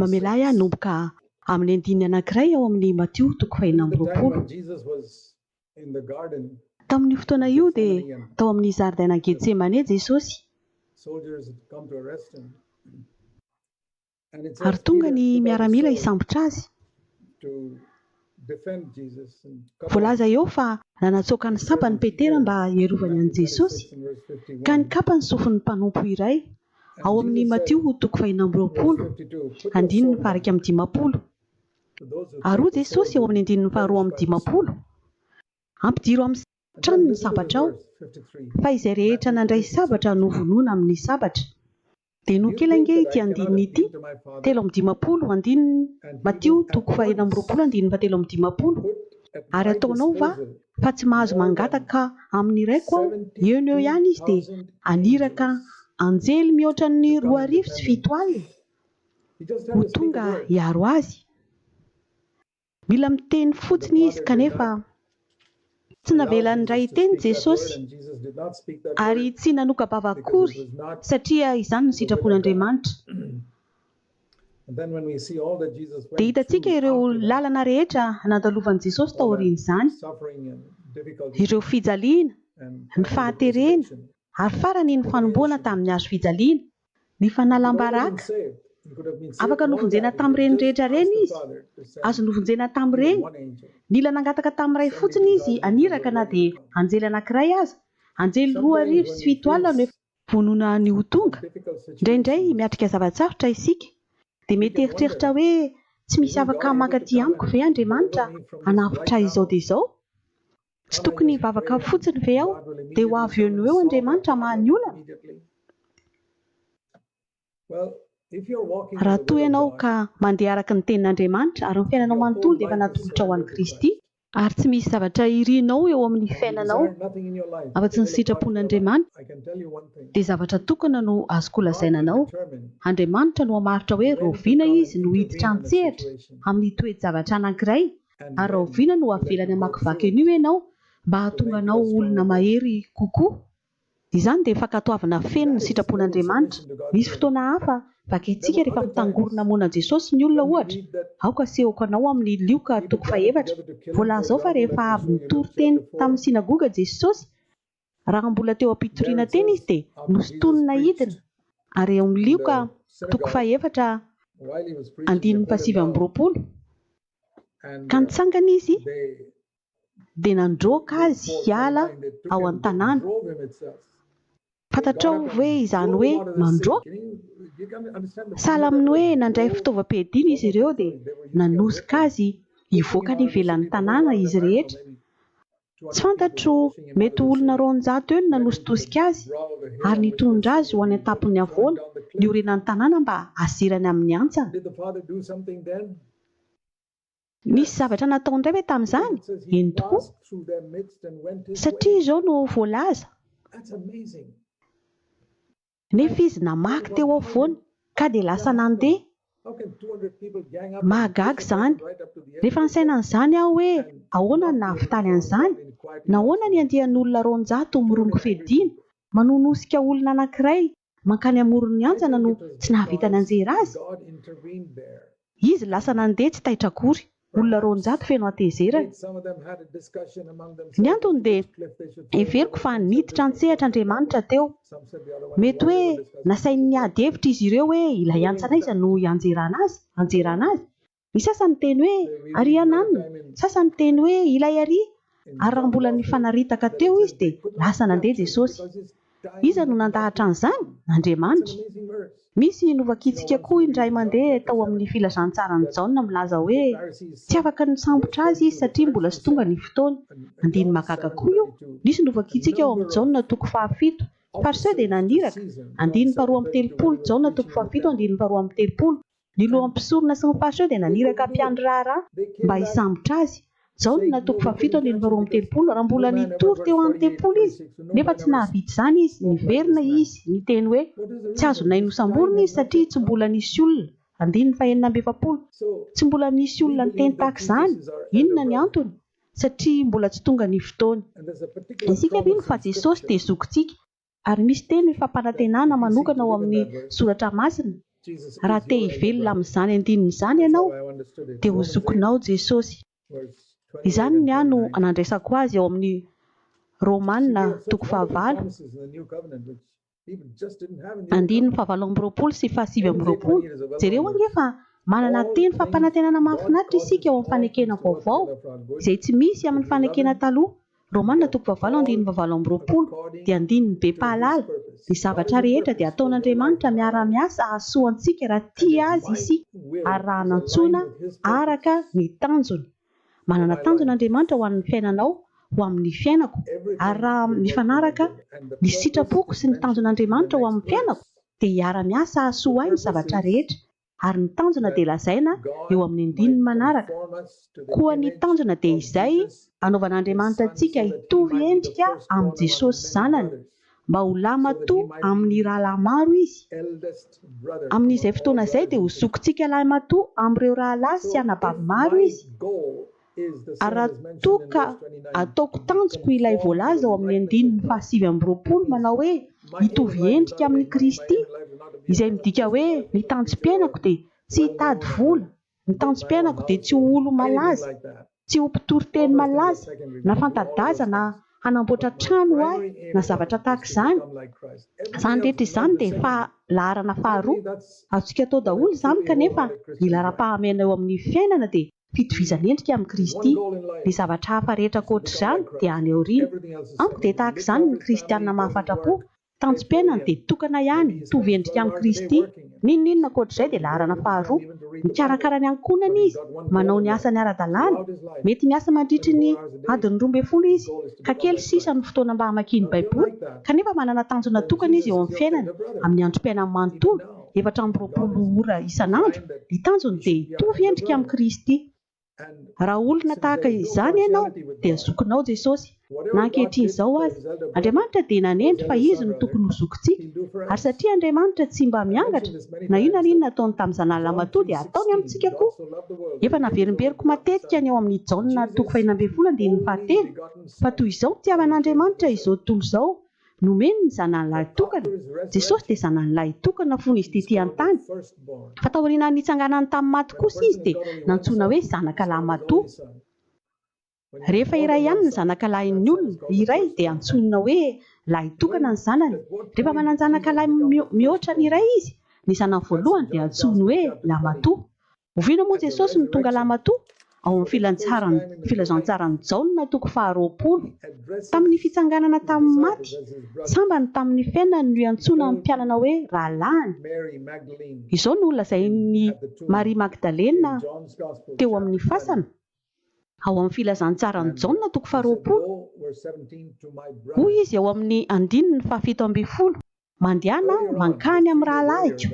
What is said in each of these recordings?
Mamelà ahy hanomboka amin'ny andininy anankiray ao amin'ny Matio toko fahenina amby roapolo. Tamin'io fotoana io, dia tao amin'ny zaridainan'i Getsemane Jesosy, ary tonga ny miaramila hisambotra azy. Voalaza eo fa nanatsoaka ny sampany Petera mba hiarovany an'i Jesosy, ka nikapa ny sofin'ny mpanompo iray, ao amin'ny Matio toko fahiny amby roapolo, andininy faha-iraika amby dimampolo. Ary hoy Jesosy ao amin'ny andininy faharoa amby dimampolo, Ampidiro amin'ny tranony ny sabatrao, fa izay rehetra nandray sabatra novonoina amin'ny sabatra. Denoho kely ange ity andininy ity, telo amby dimampolo andininy, Matio toko fahenina amby roapolo andininy fahatelo amby dimampolo, Ary ataonao va fa tsy mahazo mangataka amin' ny Raiko Aho? Eo no eo ihany izy dia haniraka anjely mihoatra ny roa arivo sy fito alina ho tonga hiaro azy. Mila miteny fotsiny izy kanefa tsy navelany indray hiteny Jesosy ary tsy nanoka-bava akory satria izany no sitrapon'Andriamanitra. Dia hitantsika ireo lalana rehetra nandalovan'i Jesosy taorian'izany, ireo fijaliana, ny fahaterena ary farany ny fanomboana tamin'ny hazo fijaliana. Ny fanalam-baraka. Afaka novonjena tamin'ireny rehetra ireny izy. Azo novonjena tamin'ireny. Nila nangataka tamin'ny Ray fotsiny izy an iraka na dia anjely anankiray aza. Anjely roa arivo sy fito alina no efa. Vonona ny ho tonga. Indraindray miatrika zava-tsarotra isika, dia mety hieritreritra hoe, Tsy misy afaka mankaty amiko ve Andriamanitra hanavotra izao dia izao? Tsy tokony hivavaka fotsiny ve aho dia ho avy eo no eo Andriamanitra hamaha ny olana? Raha toa ianao ka mandeha araka ny Tenin'Andriamanitra, ary ny fiainanao manontolo dia efa natolotrao ho an'i Kristy, ary tsy misy zavatra irinao eo amin'ny fiainanao afa-tsy ny sitrapon'Andriamanitra, dia zavatra tokana no azoko lazaina anao, Andriamanitra no hamaritra hoe raoviana Izy no hiditra an-tsehatra amin'ny toe-javatra anankiray Ary rahoviana no havelany hamakivaky an'io ianao mba hahatonga anao ho olona mahery kokoa? Izany dia fankatoavana feno ny sitrapon'Andriamanitra. Misy fotoana hafa vakintsika rehefa mitangorona hamono an'i Jesosy ny olona, ohatra, Aoka hasehoko anao amin'ny Lioka toko fahefatra. Voalaza ao fa rehefa avy nitory teny tamin'ny synagoga Jesosy, Raha mbola teo am-pitoriana teny izy dia nosintonina hidina ary eo amin'ny lioka toko fahefatra andininy fahasivy amby roapolo ka nitsangana izy dia nandroaka azy hiala ao an-tanàna. Fantatrao ve izany hoe mandroaka? Sahala amin'ny hoe nandray fitaovam-piadiana izy ireo dia nanosika azy hivoaka any ivelan'ny tanàna izy rehetra Tsy fantatro, mety ho olona roanjato eo no nanositosika azy ary nitondra azy ho any an-tampon'ny havoana niorenan'ny tanàna mba haserany amin'ny hantsana. Nisy zavatra natao indray ve tamin'izany? Eny tokoa, satria izao no voalaza. Nefa izy namaky teo afovoany ka dia lasa nandeha. Mahagaga izany! Rehefa nisaina an'izany aho hoe ahoana no nahavitany an'izany? Nahoana ny andian'olona roanjato mirongo fiadiana, manonosika olona anankiray mankany amoron'ny anjana no tsy nahavita nanjera azy? Izy lasa nandeha tsy taitra akory. Olona roanjato feno hatezerana. Ny antony dia heveriko fa niditra an-tsehatra Andriamanitra teo. Mety hoe nasainy niady hevitra izy ireo hoe ilay antsa anaiza no hianjerana azy, hanjerana azy. Ny sasany niteny hoe, Àry iananona. Ny sasany niteny hoe, Ilay àry. Ary raha mbola nifanaritaka teo izy dia lasa nandeha Jesosy. Iza no nandahatra an'izany? Andriamanitra. Misy novakitsika koa indray mandeha tao amin'ny Filazantsaran'i Jaona milaza hoe tsy afaka nisambotra azy izy satria mbola tsy tonga ny fotoany. Andininy mahagaga koa io. Misy novakitsika ao amin'ny Jaona toko fahafito. Fariseo dia naniraka. Andininy faharoa amby telopolo, Jaona toko fahafito, andininy faharoa amby telopolo. Ny lohan'ny mpisorona sy ny fariseo dia naniraka mpiandry raharaha mba hisambotra azy. Jaona, toko fahafito andininy roa amby telopolo, Raha mbola nitory teo amin'ny tempoly izy, nefa tsy nahavita izany izy, niverina izy, niteny hoe, Tsy azonay nosamborina izy, satria tsy mbola nisy olona. Andininy fahenina amby efapolo, Tsy mbola nisy olona niteny tahaka izany. Inona ny antony? Satria mbola tsy tonga ny fotoany. Isika mino fa Jesosy dia Zokintsika. ary misy teny fampanantenana manokana ao amin'ny Soratra Masina, Raha te hivelona amin'izany andininy izany ianao, dia ho zokinao Jesosy. Izany ny ahy no nandraisako azy ao amin'ny Romana toko fahavalo, andininy fahavalo amby roapolo sy fahasivy amby roapolo. Jereo ange fa manana teny fampanantenana mahafinaritra isika ao amin'ny fanekena vaovao, izay tsy misy amin'ny fanekena taloha. Romana toko fahavalo andininy fahavalo amby roapolo dia andininy be mpahalala, Ny zavatra rehetra dia ataon'Andriamanitra miara-miasa hahasoa antsika raha tia Azy isika ary raha anantsoina araka ny tanjony. Manana tanjona Andriamanitra ho an'ny fiainanao, ho amin'ny fiainako, ary raha mifanaraka ny sitrapoko sy ny tanjon'Andriamanitra ho amin'ny fiainako dia hiara-miasa hahasoa ahy ny zavatra rehetra. ary ny tanjona dia lazaina eo amin'ny andininy manaraka, Koa ny tanjona dia izay, hanaovan'Andriamanitra antsika hitovy endrika amin'i Jesosy Zanany, mba ho lahimatoa amin'ny rahalahy maro Izy. Amin'izay fotoana izay dia ho zokintsika lahimatoa amin'ireo rahalahy sy anabavy maro Izy. Ary raha toa ka ataoko tanjoko ilay voalaza ao amin'ny andininy fahasivy amby roapolo manao hoe hitovy endrika amin'i Kristy, izay midika hoe ny tanjom-piainako dia tsy hitady vola, ny tanjom-piainako dia tsy ho olo-malaza, tsy ho mpitory teny malaza, na fanta-daza na hanamboatra trano ho ahy na zavatra tahaka izany, izany rehetra izany dia efa laharana faharoa. Azontsika atao daholo izany kanefa ny laharam-pahamehana eo amin'ny fiainana dia fitovizan'endrika amin'i Kristy, ny zavatra hafa rehetra ankoatr'izany dia any aoriana. Amiko dia tahaka izany ny kristiana mahafatra-po, tanjom-piainany dia tokana ihany hitovy endrika amin'i Kristy, n'inon'inona ankoatr'izay dia laharana faharoa, mikarakara ny ankohonany izy, manao ny asany ara-dalàna, mety miasa mandritry ny adiny roa ambin'ny folo izy, ka kely sisa no fotoana mba hamakiany Baiboly, kanefa manana tanjona tokana izy eo amin'ny fiainany amin'ny androm-piainany manontolo. efatra amby roapolo ora isan'andro, ny tanjony dia hitovy endrika amin'i Kristy. Raha olona tahaka izany ianao, dia zokinao Jesosy. Na ankehitriny izao aza, Andriamanitra dia nanendry fa Izy no tokony ho zokintsika. Ary satria Andriamanitra tsy mba miangatra, na inona na inona ataony tamin'ny Zanany lahimatoa dia ataony amintsika koa. Efa naverimberiko matetika ny ao amin'ny Jaona toko fahina ambin'ny folo andininy fahatelo, fa toy izao nitiavan'Andriamanitra izao tontolo izao, Nomeny ny Zanany Lahy Tokana, Jesosy dia Zanany Lahy Tokana fony Izy tetỳ an-tany, fa taorianan'ny nitsanganany tamin'ny maty kosa Izy dia nantsoina hoe Zanaka Lahy Matoa. Rehefa iray ihany ny zanaka lahin'ny olona, iray dia antsoina hoe lahy tokana ny zanany. Rehefa manan-janaka lahy mihoatra ny iray izy, ny zanany voalohany dia antsoiny hoe lahy matoa. Oviana moa Jesosy no tonga Lamatoa? Ao amin'ny filantsaran'ny Filazantsaran'i Jaona toko faharoapolo. Tamin'ny fitsanganana tamin'ny maty, sambany tamin'ny fiainany no iantsoana ny mpianana hoe rahalahiny. Izao no lazain'i Maria Magdalena teo amin'ny fasana, ao amin'ny Filazantsaran'i Jaona toko faharoapolo, hoy izy ao amin'ny andininy fahafito ambin'ny folo. Mandehana mankany amin'ny rahalahiko.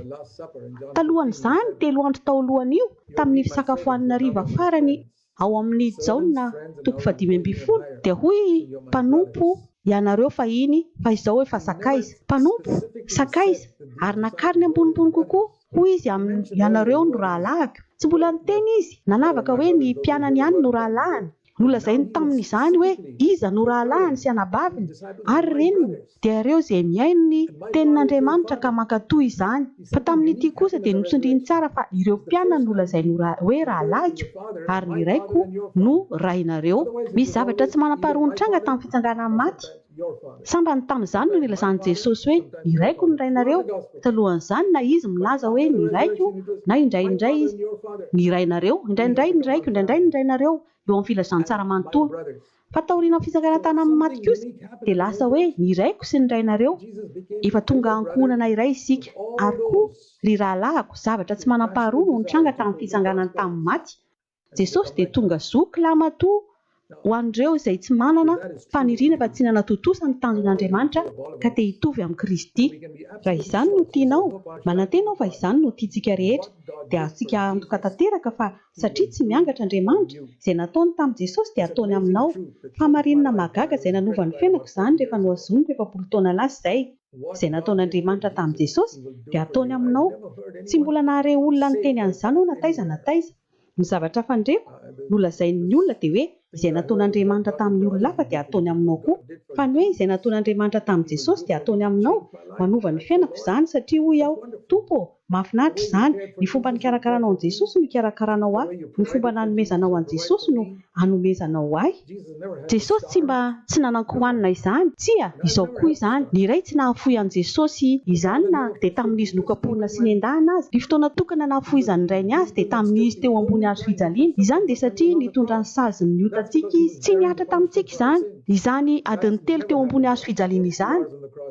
Talohan'izany, telo andro tao alohan'io, tamin'ny fisakafoan'ny hariva farany ao amin'ny Jaona toko fahadimy ambin'ny folo, dia hoy i Mpanompo, Ianareo fahiny, fa izao efa sakaiza. Mpanompo, sakaiza, ary nakariny ambonimbony kokoa, hoy Izy aminy, Ianareo no rahalahiko. Tsy mbola niteny Izy, nanavaka hoe ny mpianany ihany no rahalahiny. Nolazainy tamin' izany hoe iza no rahalahiny sy anabaviny ary reniny, dia ireo izay mihaino ny Tenin' Andriamanitra ka mankatò izany. Fa tamin' ity kosa dia notsindriny tsara fa ireo mpianany no lazainy ho hoe rahalahiko, ary ny raiko no rainareo. Misy zavatra tsy manam-paharoa nitranga tamin'ny fitsanganan'ny maty. Sambany tamin'izany no nilazan'i Jesosy hoe, Ny Raiko no Rainareo. Talohan'izany, na Izy milaza hoe, Ny Raiko, na indraindray Izy, Ny Rainareo, indraindray Ny Raiko, indraindray Ny Rainareo, eo amin'ny Filazantsara manontolo. Fa taorian'ny fitsanganantany amin'ny maty kosa, dia lasa hoe, Ny Raiko sy ny Rainareo. Efa tonga ankohonana iray isika. Ary koa, ry rahalahiko, zavatra tsy manam-paharoa no nitranga tamin'ny Fitsanganany tamin'ny maty. Jesosy dia tonga zoky lahimatoa ho an'ireo izay tsy manana faniriana fa tsy nanatontosa ny tanjon'Andriamanitra ka te hitovy amin'i Kristy. Raha izany no tianao, manantena aho fa izany no tiantsika rehetra, dia azontsika antoka tanteraka fa satria tsy miangatra Andriamanitra, izay nataony tamin'i Jesosy dia ataony aminao. Fahamarinana mahagaga izay nanova ny fiainako izany rehefa nohazoniko efapolo taona lasa izay. Izay nataon'Andriamanitra tamin'i Jesosy dia ataony aminao. Tsy mbola nahare olona niteny an'izany aho na taiza na taiza. Ny zavatra hafa nireko nolazain'ny olona dia hoe izay nataon'Andriamanitra tamin'ny olona hafa dia hataony aminao koa. Fa ny hoe izay nataon'Andriamanitra tamin'i Jesosy dia hataony aminao, manova ny fiainako izany satria hoy aho, Tompo ô, mahafinaritra izany, ny fomba nikarakaranao an'i Jesosy no hikarakara anao ahy, ny fomba nanomezanao an'i Jesosy no anomezana ho ahy? Jesosy tsy mba tsy nanan-kohanina izany. Tsia, izao koa izany, ny Ray tsy nahafoy an'i Jesosy izany na dia tamin'izy nokapohina sy nendahina aza. Ny fotoana tokana nahafohizan'ny Rainy Azy dia tamin'izy teo ambony hazo fijaliana. Izany dia satria nitondra ny sazin'ny otantsika Izy. Tsy nihatra tamintsika izany, izany adiny telo teo ambony hazo fijaliana izany,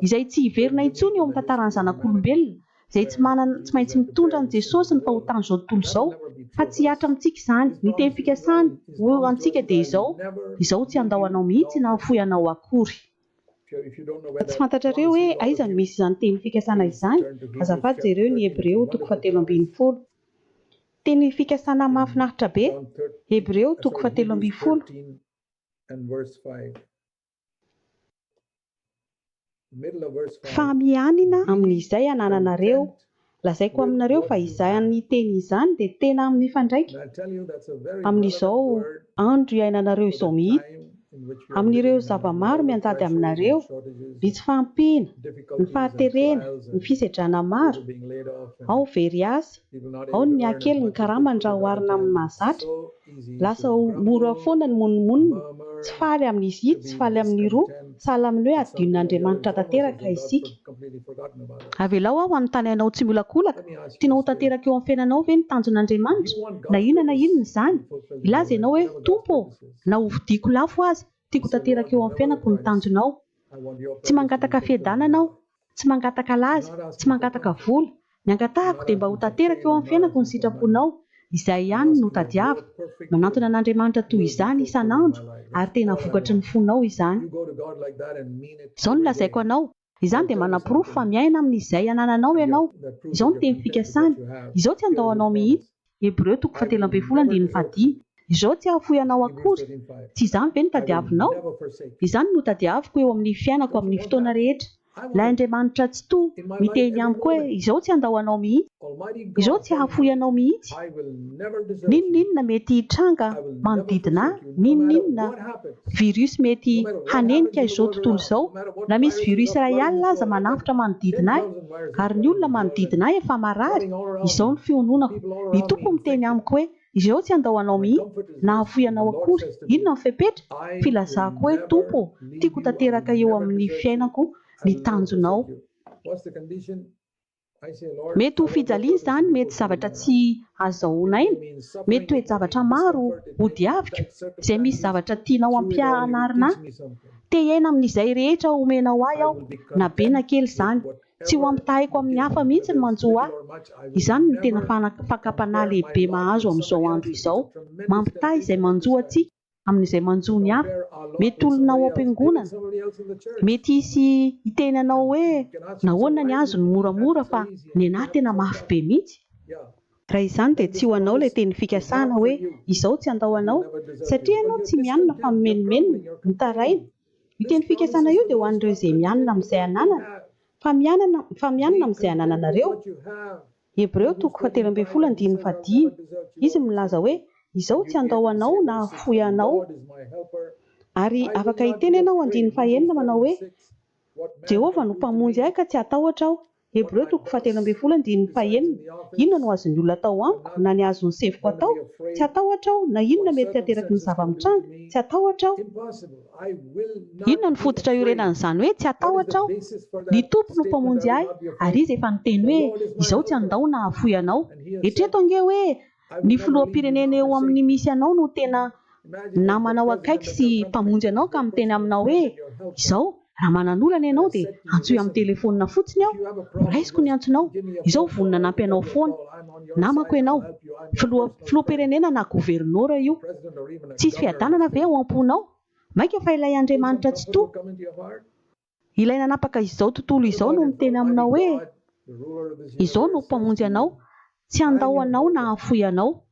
izay tsy hiverina intsony eo amin'ny tantaran'ny zanak'olombelona, izay tsy manana, tsy maintsy mitondra an'i Jesosy ny fahotan'izao tontolo izao, fa tsy hihatra amintsika izany. Ny teny fikasany ho eo amintsika dia izao, Izaho tsy handao anao mihitsy na hafoy anao akory. Raha tsy fantatrareo hoe aiza no misy izany teny fikasana izany, azafady jereo ny Hebreo toko fahatelo ambin'ny folo. Teny fikasana mahafinaritra be! Hebreo toko fahatelo ambin'ny folo. Fa mianina amin'izay anananareo, lazaiko aminareo fa izany teny izany dia tena mifandraika amin'izao andro iainanareo izao mihitsy, amin'ireo zava-maro mianjady aminareo, ny tsy fahampiana, ny fahaterena, ny fisedrana maro, ao very asa, ao ny mihaha kely ny karamany raha oharina amin'ny mahazatra. Lasa ho mora foana ny monomonona, tsy faly amin'izy ity, tsy faly amin'iroa, sahala amin'ny hoe hadinon'Andriamanitra tanteraka isika. Avelao aho hanontany anao tsy miolakolaka, tianao ho tanteraka eo amin'ny fiainanao ve ny tanjon'Andriamanitra, na inona na inona izany? Hilaza ianao hoe, Tompo ô, na hovidiako lafo aza, tiako ho tanteraka eo amin'ny fiainako ny tanjonao. Tsy mangataka fiadanana aho, tsy mangataka laza, tsy mangataka vola, ny angatahako dia mba ho tanteraka eo amin'ny fiainako ny sitraponao, izay ihany no tadiaviko, manantona an'Andriamanitra toy izany isan'andro ary tena vokatry ny fonao izany. Izao no lazaiko anao, izany dia manaporofo fa miaina amin'izay anananao ianao, izao no teny fikasany, izao tsy handao anao mihitsy, Hebreo toko fahatelo ambin'ny folo andininy fahadimy. Izao tsy hahafoy anao akory. Tsy izany ve no tadiavinao? Izany no hotadiaviko eo amin'ny fiainako amin'ny fotoana rehetra, Ilay Andriamanitra Tsitoha miteny amiko hoe izao tsy handao anao mihitsy, izao tsy hahafoy anao mihitsy. N'inon'inona mety hitranga manodidina ahy, N'inon'inona virus mety hanenika izao tontolo izao, na misy virus iray alina aza manafotra manodidina ahy, ary ny olona manodidina ahy efa marary, izao ny fiononako. Ny Tompo miteny amiko hoe, Izao tsy handao anao mihitsy, na hahafoy anao akory. Inona ny fepetra? Filazako hoe, Tompo ô, tiako ho tanteraka eo amin'ny fiainako ny tanjonao. Mety ho fijaliana izany, mety zavatra tsy azahoana aina, mety toe-javatra maro hodiaviko, izay misy zavatra tianao hampianarina ahy. Te hiaina amin'izay rehetra omenao ahy aho, na be na kely izany. Tsy ho ampitahaiko amin'ny hafa mihitsy ny manjo ahy. Izany no tena fakam-panahy lehibe mahazo amin'izao andro izao, mampitaha izay manjo antsika. amin'izay manjo ny hafa. Mety olona ao am-piangonana mety hisy hiteny anao hoe nahoana ny azy no moramora fa ny anah tena mafy be mihitsy. Raha izany dia tsy ho anao ilay teny fikasana hoe izao tsy handao anao satria ianao tsy mianina fa mimenomenona, mitaraina. Io teny fikasana io dia ho an'ireo izay mianina amin'izay ananana fa mianana fa mianina amin'izay anananareo. Hebreo toko fahatelo ambin'ny folo andininy fahadimy, Izy milaza hoe, Izao tsy handao anao na hahafoy anao. Ary afaka hiteny ianao andininy fahenina manao hoe, Jehovah no Mpamonjy ahy ka tsy hatahotra aho. Hebreo toko fahatelo ambin'ny folo andininy fahenina, Inona no azon'ny olona atao amiko na ny azon'ny sefoko atao? Tsy hatahotra aho, na inona mety hateraky ny zava-mitranga, tsy hatahotra aho. Inona no fototra iorenan'izany hoe tsy hatahotra aho? Ny Tompo no Mpamonjy ahy, ary Izy efa niteny hoe, Izao tsy handao na hafoy anao. Eritrereto ange hoe ny filoham-pirenena eo amin'ny misy anao no tena namanao akaiky sy Mpamonjy anao ka miteny aminao hoe, Izao, raha manana olana ianao dia antsoy amin'ny telefaonina fotsiny aho, ho raisiko ny antsonao. Izao vonona hanampy anao foana. Namako ianao. Filoha, filoham-pirenena na governora io. Tsisy fiadanana ve ao am-ponao? Mainka fa ilay Andriamanitra Tsitoha, Ilay nanapaka izao tontolo izao no miteny aminao hoe, Izao no Mpamonjy anao, tsy handao anao na hahafoy anao.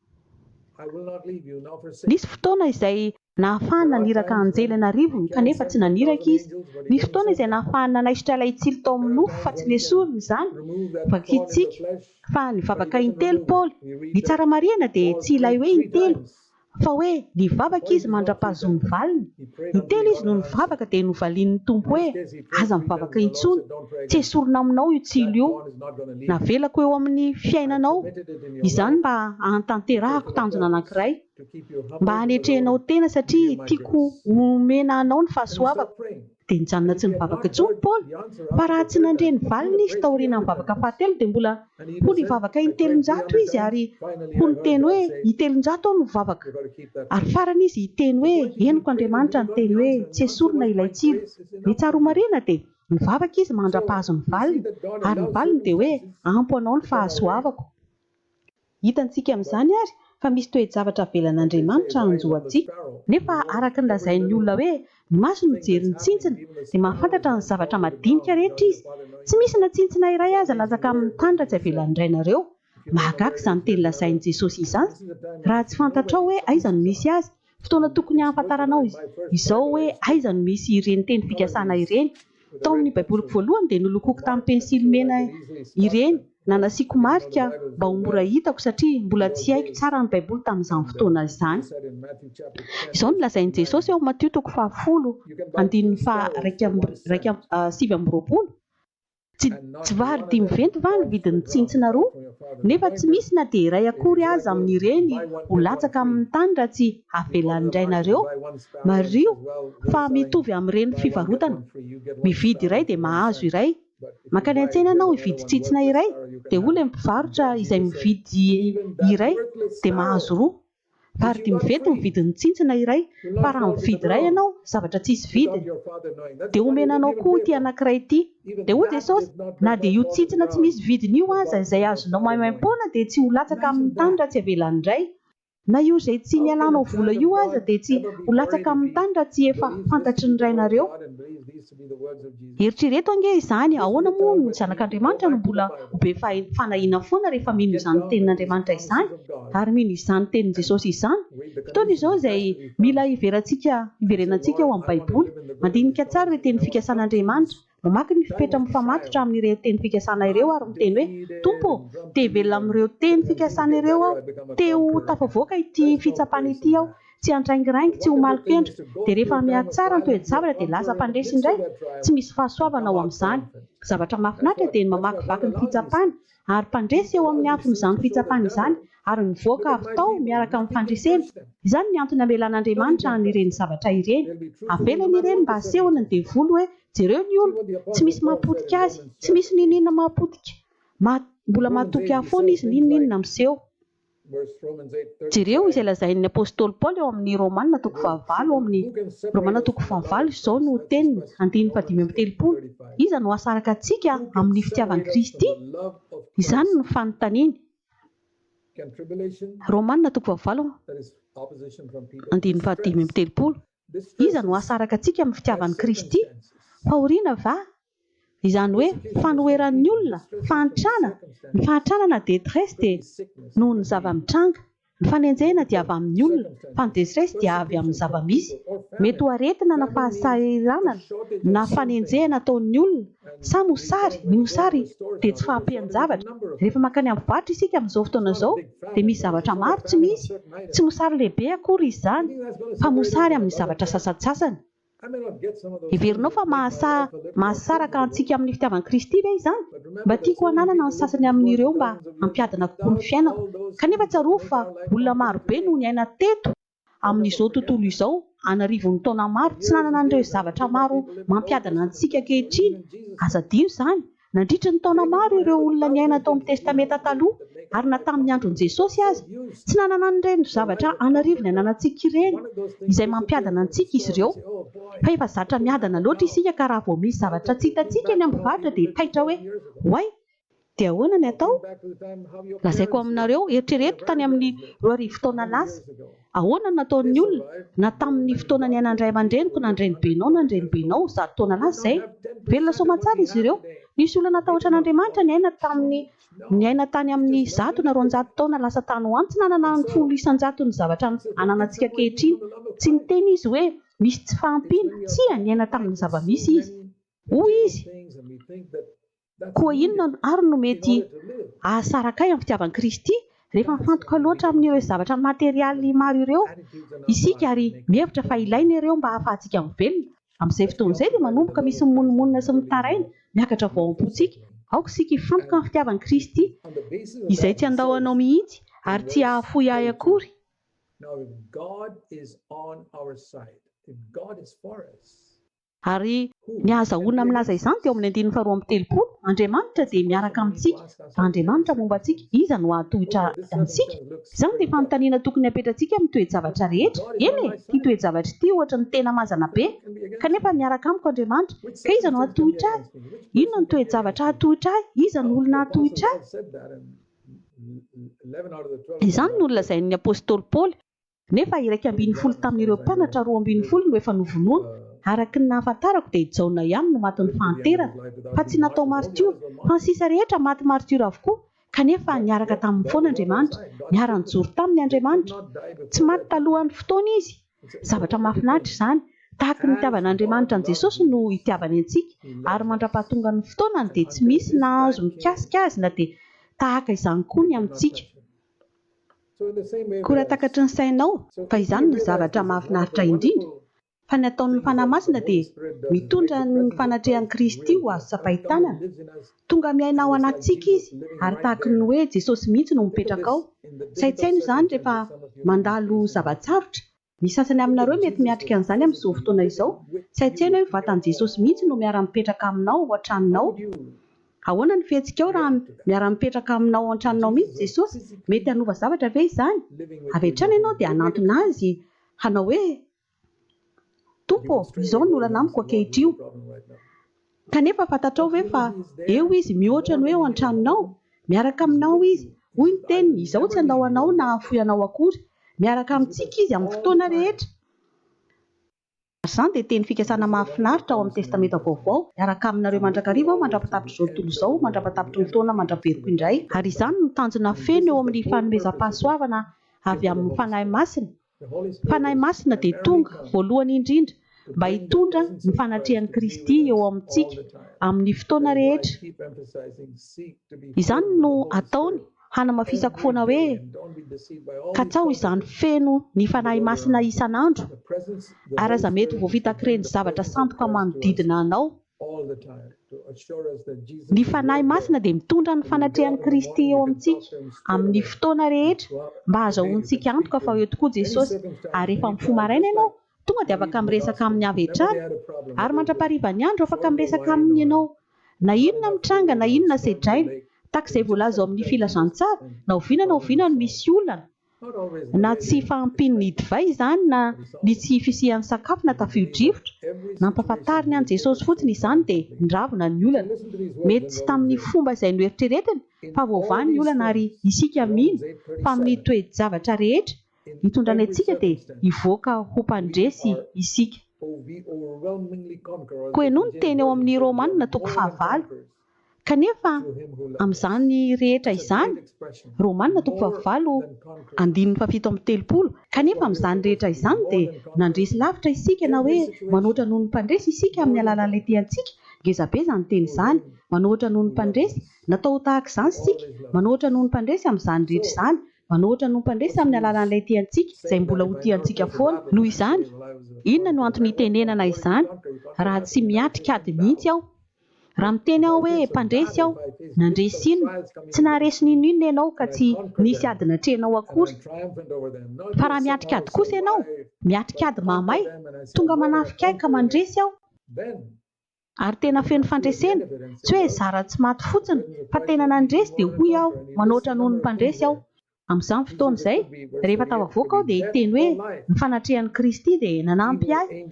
Nisy fotoana izay. Nahafahany naniraka anjely an'arivony kanefa tsy naniraka izy. Nisy fotoana izay nahafahany nanaisotra ilay tsilo tao amin'ny nofo fa tsy nesoriny izany. Vakintsika fa nivavaka intelo Paoly. Ny tsara marihana dia tsy ilay hoe intelo fa hoe nivavaka izy mandra-pahazoany ny valiny. Intelo izy no nivavaka dia novalian'ny Tompo hoe, Aza mivavaka intsony. Tsy hesorina aminao io tsilo io. Navelako eo amin'ny fiainanao izany mba hahatanterahako tanjona anankiray. Mba hanetrehanao tena satria tiako homena anao ny fahasoavako. Dia nijanona tsy nivavaka intsony i Paoly. Fa raha tsy nandre ny valiny izy taorianan'ny vavaka fahatelo dia mbola ho nivavaka in-telonjato izy ary ho niteny hoe in-telonjato aho no mivavaka. Ary farany izy hiteny hoe henoko Andriamanitra niteny hoe tsy esorina ilay tsilo. Dia tsara ho marihina dia nivavaka izy mandra-pahazo ny valiny ary ny valiny dia hoe ampo anao ny fahasoavako. Hitantsika amin'izany àry fa misy toe-javatra avelan'Andriamanitra hanjo antsika. Nefa araka ny lazain'ny olona hoe ny maso no jery ny tsintsina, dia mahafantatra ny zavatra madinika rehetra izy. Tsy misy na tsintsina iray aza latsaka amin'ny tany raha tsy avelan'ny Rainareo. Mahagaga izany teny lazain'i Jesosy izany, raha tsy fantatrao hoe aiza no misy azy. Fotoana tokony hahafantaranao izao hoe aiza no misy ireny teny fikasana ireny. Tao amin'ny Baiboliko voalohany dia nolokoiko tamin'ny pensily mena ireny na nasiako marika mba ho mora hitako satria mbola tsy haiko tsara ny Baiboly tamin'izany fotoana izany. Izao no lazain'i Jesosy ao Matio toko fahafolo andininy faha iraika amby sivy amby roapolo, Tsy tsy vary dimy venty va ny vidin'ny tsintsina roa? Nefa tsy misy na dia iray akory aza amin'ireny ho latsaka amin'ny tany raha tsy avela indray nareo. Mariho fa mitovy amin'ireny fivarotana. Mividy iray dia mahazo iray. Mankany an-tsena ianao hividy tsintsina iray dia hoy ilay mpivarotra izay mividy iray dia mahazo roa. Vary dimy vety ny vidin'ny tsintsina iray fa raha mividy iray ianao zavatra tsisy vidiny dia omena anao koa ity anankiray ity. Dia hoy Jesosy, na dia io tsintsina tsy misy vidiny io aza izay azonao maimaim-poana dia tsy ho latsaka amin'ny tany raha tsy avela handray. Na io izay tsy nialanao vola io aza dia tsy ho latsaka amin'ny tany raha tsy efa fantatry ny Rainareo. Eritrereto ange izany, ahoana moa no zanak'Andriamanitra no mbola ho be fanahiana foana rehefa mino izany tenin'Andriamanitra izany ary mino izany tenin'i Jesosy izany? Fotoana izao izay mila hiverantsika hiverenantsika ao amin'ny Baiboly. Mandinika tsara ireo teny fikasan'Andriamanitra. Mamaky ny fepetra mifamatotra amin'ireo teny fikasana ireo ary miteny hoe, Tompo ô, te-hivelona amin'ireo teny fikasana ireo aho. Te-ho tafavoaka ity fitsapana ity aho. Tsy handraingiraingy, tsy ho malin-kendry. Dia rehefa mihatsy tsara ny toe-javatra dia lasa mpandresy indray. Tsy misy fahasoavana ao amin'izany. Zavatra mahafinaritra dia ny mamakivaky ny fitsapana, ary mpandresy eo amin'ny afon'izany fitsapana izany, ary mivoaka avy tao miaraka amin'ny fandresena. Izany ny antony amelan'Andriamanitra an'ireny zavatra ireny. Avelany ireny mba hasehony ny devoly hoe, jereo ny olona. Tsy misy mahapotika azy. Tsy misy n'inon'inona mahapotika. Mbola matoky ahy foana izy n'inon'inona miseho. Jereo izay lazain'ny apostoly Paoly ao amin'ny Romana toko fahavalo amin'ny Romana toko fahavalo, izao no teniny, andininy fahadimy amby telopolo, Iza no hasaraka antsika amin'ny fitiavan'i Kristy? Izany no fanontaniany. Romana toko fahavalo andininy fahadimy amby telopolo, Iza no hasaraka antsika amin'ny fitiavan'i Kristy? Fahoriana va Izany hoe fanoheran'ny olona, fahantrana, ny fahantrana na detresse dia noho ny zava-mitranga, ny fanenjehina dia avy amin'ny olona fa ny detresse dia avy amin'ny zava-misy, mety ho aretina na fahasahiranana na fanenjehana ataon'ny olona, sa mosary, ny mosary dia tsy fahampian-javatra, rehefa mankany amin'ny varotra isika amin'izao fotoana izao dia misy zavatra maro tsy misy, tsy mosary lehibe akory izy izany fa mosary amin'ny zavatra sasantsasany. Heverinao fa mahasaha mahasaraka antsika amin'ny fitiavan'i Kristy ve izany? Mba tiako hananana ny sasany amin'ireo mba hampiadana kokoa ny fiainako. Kanefa tsarovy fa olona maro be no niaina teto amin'izao tontolo izao an'arivony taona maro tsy nanana an'ireo zavatra maro mampiadana antsika ankehitriny. Aza adino izany Nandritra ny taona maro ireo olona niaina tao amin'ny Testamenta Taloha, ary na tamin'ny andron'i Jesosy aza, tsy nanana an'ireny zavatra an'arivony ananantsika ireny, izay mampiadana antsika izy ireo. Fa efa zatra miadana loatra isika ka raha vao misy zavatra tsy hitantsika eny amin'ny mpivarotra dia taitra hoe, Oay! Dia ahoana ny atao? Lazaiko aminareo, eritrereto tany amin'ny roa arivo taona lasa. Ahoana no nataon'ny olona, na tamin'ny fotoana niainan'ny ray aman-dreniko na ny renibenao na ny renibenao, zato taona lasa izay? Velona soamantsara izy ireo. Nisy olona natahotra an'Andriamanitra niaina tamin'ny niaina tany amin'ny zato na roanjato taona lasa tany ho any. Tsy nanana ny folo isan-jaton'ny zavatra ananantsika ankehitriny. Tsy niteny izy hoe, Misy tsy fahampiana. Tsia, niaina tamin'ny zava-misy izy. Hoy izy. Koa inona àry no mety hahasaraka ahy amin'ny fitiavan'i Kristy, rehefa mifantoka loatra amin'ireo zavatra materialy maro ireo isika ary mihevitra fa ilaina ireo mba hahafahantsika mivelona? Amin'izay fotoana izay, dia manomboka misy mimonomonona sy mitaraina miakatra vao ao am-pontsika. Aoka isika hifantoka amin'ny fitiavan'i Kristy, izay tsy handao anao mihitsy ary tsy hahafoy ahy akory. Ary ny ahazahoana milaza izany dia ao amin'ny andininy faharoa amby telopolo, Andriamanitra dia miaraka amintsika, Andriamanitra momba antsika, iza no hahatohitra antsika? Izany dia fanontaniana tokony hapetratsika amin'ny toe-javatra rehetra. Eny e, ity toe-javatra ity ohatra no tena mazana be, Kanefa miaraka amiko Andriamanitra, ka iza no hahatohitra ahy? Inona no toe-javatra hahatohitra ahy? Iza no olona hahatohitra ahy? Izany no nolazain'ny apostoly Paoly. Nefa iraika ambin'ny folo tamin'ireo mpianatra roa ambin'ny folo no efa novonoina. Araka ny nahafantarako dia i Jaona ihany no matin'ny fahanterana. Fa tsy natao martiora, fa ny sisa rehetra maty martiora avokoa. Kanefa niaraka taminy foana Andriamanitra. Niara-nijoro taminy Andriamanitra. Tsy maty talohan'ny fotoany izy. Zavatra mahafinaritra izany. Tahaka ny nitiavana Andriamanitra an'i Jesosy no itiavany antsika. Ary mandrapahatongan'ny fotoanany dia tsy misy nahazo mikasika azy na dia tahaka izany koa ny amintsika. Koa raha takatry ny sainao fa izany no zavatra mahafinaritra indrindra, fa ny ataon'ny Fanahy Masina dia mitondra ny fanatrehan'i Kristy ho azo tsapain-tanana, tonga miaina ao anatintsika Izy ary tahaky ny hoe Jesosy mihitsy no mipetraka ao, saintsaino izany rehefa mandalo zava-tsarotra, Ny sasany aminareo mety miatrika an'izany amin'izao fotoana izao. Tsy hain-tsaina hoe vatan'i Jesosy mihitsy no miara-mipetraka aminao ao an-tranonao. Ahoana ny fihetsikao raha miara-mipetraka aminao ao an-tranonao mihitsy Jesosy? Mety hanova zavatra ve izany? Avy hatrany ianao dia hanantona Azy hanao hoe, Tompo ô, izao ny olana amiko ankehitriny. Kanefa fantatrao ve fa eo Izy, mihoatra ny hoe ao an-tranonao? Miaraka aminao Izy. Hoy ny Teniny, Izaho tsy handao anao na hahafoy anao akory. Miaraka amintsika Izy amin'ny fotoana rehetra. Ary izany dia teny fikasana mahafinaritra ao amin'ny Testamenta Vaovao, Miaraka aminareo mandrakariva Aho mandra-patapitrizao tontolo izao, mandra-patapitry ny taona mandra-beroko indray. Ary izany no tanjona feno eo amin'ny fanomezam-pahasoavana avy amin'ny Fanahy Masina, Fanahy Masina dia tonga, voalohany indrindra, mba hitondra ny fanatrehan'i Kristy eo amintsika amin'ny fotoana rehetra. Izany no ataony, hanamafisako foana hoe, Katsaho izany feno ny Fanahy Masina isan'andro, ary aza mety ho voavitak'ireny zavatra sandoka manodidina anao. Ny Fanahy Masina dia mitondra ny fanatrehan'i Kristy eo amintsika, amin'ny fotoana rehetra, mba hazahoantsika antoka fa eo tokoa Jesosy. Ary rehefa mifoha maraina ianao, tonga dia afaka miresaka Aminy avy hatrany. Ary mandra-paharivan'ny andro, afaka miresaka Aminy ianao. Na inona mitranga, na inona sedraina, tahaka izay voalaza ao amin'ny Filazantsara, na oviana na oviana no misy olana, Na tsy fahampian'ny divay izany na ny tsy fisian'ny sakafo na tafio-drivotra, nampahafantariny an'i Jesosy fotsiny izany dia niravona ny olana. Mety tsy tamin'ny fomba izay noeritreretiny fa voavaha ny olana ary isika mino fa amin'ny toe-javatra rehetra itondrany antsika dia hivoaka ho mpandresy isika. Koa henoy ny teny ao amin'ny Romana toko fahavalo. Kanefa, amin'izany rehetra izany, Romana toko fahavalo, andininy fahafito amby telopolo, kanefa amin'izany rehetra izany dia nandresy lavitra isika na hoe manoatra noho ny mpandresy isika amin'ny alalan'ilay tiantsika, ngeza be izany teny izany, manoatra noho ny mpandresy, natao ho tahaka izany isika, manoatra noho ny mpandresy amin'izany rehetra izany, manoatra noho ny mpandresy amin'ny alalan'ilay tiantsika, izay mbola ho tiantsika foana. Noho izany, inona no antony hitenenana izany raha tsy miatrika ady mihitsy aho? Raha miteny aho hoe mpandresy aho, nandresy inona? Tsy naharesy n'inon'inona ianao ka tsy nisy ady natrehinao akory. Fa raha miatrika ady kosa ianao, miatrika ady mahamay, tonga manafika ahy ka mandresy aho, ary tena feno fandresena, tsy hoe zara tsy maty fotsiny, fa tena nandresy, dia hoy aho, manoatra noho ny mpandresy aho. Amin'izany fotoana izay, rehefa tafavoaka aho, dia hiteny hoe, Ny fanatrehan'i Kristy dia nanampy ahy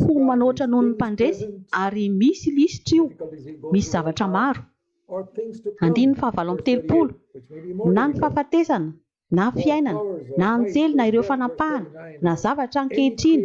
ho manoatra noho ny mpandresy, ary misy lisitra io, misy zavatra maro. Andininy fahavalo amby telopolo, na ny fahafatesana, na fiainana, na anjely, na ireo fanapahana, na zavatra ankehitriny,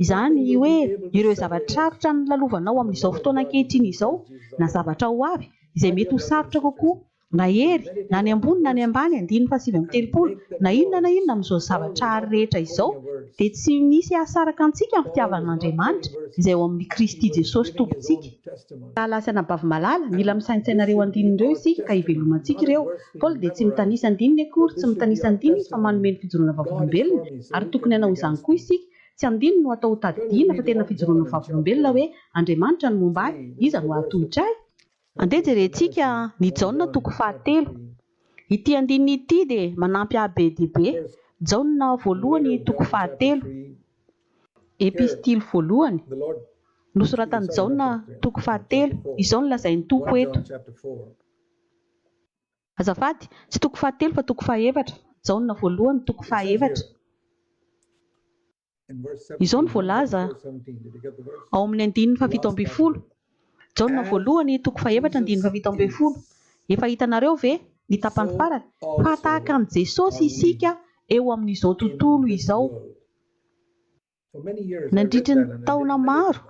izany hoe ireo zava-tsarotra nolalovanao amin'izao fotoana ankehitriny izao, na zavatra ho avy, izay mety ho sarotra kokoa na hery, na ny ambony na ny ambany, andininy fahasivy amby telopolo, na inona na inona amin'izao zavatra ary rehetra izao, dia tsy misy hahasaraka antsika amin'ny fitiavan'Andriamanitra izay ao amin'i Kristy Jesosy Tompontsika. Lahilahy sy anabavy malala, mila misaintsaina ireo andininy ireo isika ka hivelomantsika ireo. Paoly dia tsy mitanisa andininy akory, tsy mitanisa andininy izy fa manome ny fijoroana vavolombelona, ary tokony hanao izany koa isika. Tsy andininy no atao ho tadidiana fa tena fijoroana vavolombelona hoe, Andriamanitra no momba ahy, iza no hahatohitra ahy? Andeha jerentsika ny Jaona toko fahatelo. Ity andininy ity dia manampy ahy be dia be, Jaona voalohany toko fahatelo. Epistily voalohany nosoratan'i Jaona toko fahatelo. Izao no lazain'ny Tompo eto. Azafady, tsy toko fahatelo fa toko fahaefatra, Jaona voalohany toko fahaefatra. Izao no voalaza ao amin'ny andininy fahafito ambin'ny folo, Jaona voalohany, toko fahefatra, andininy fahafito ambin'ny folo, Efa hitanareo ve, ny tapany farany, fa tahaka an'i Jesosy isika eo amin'izao tontolo izao? Nandritry ny taona maro,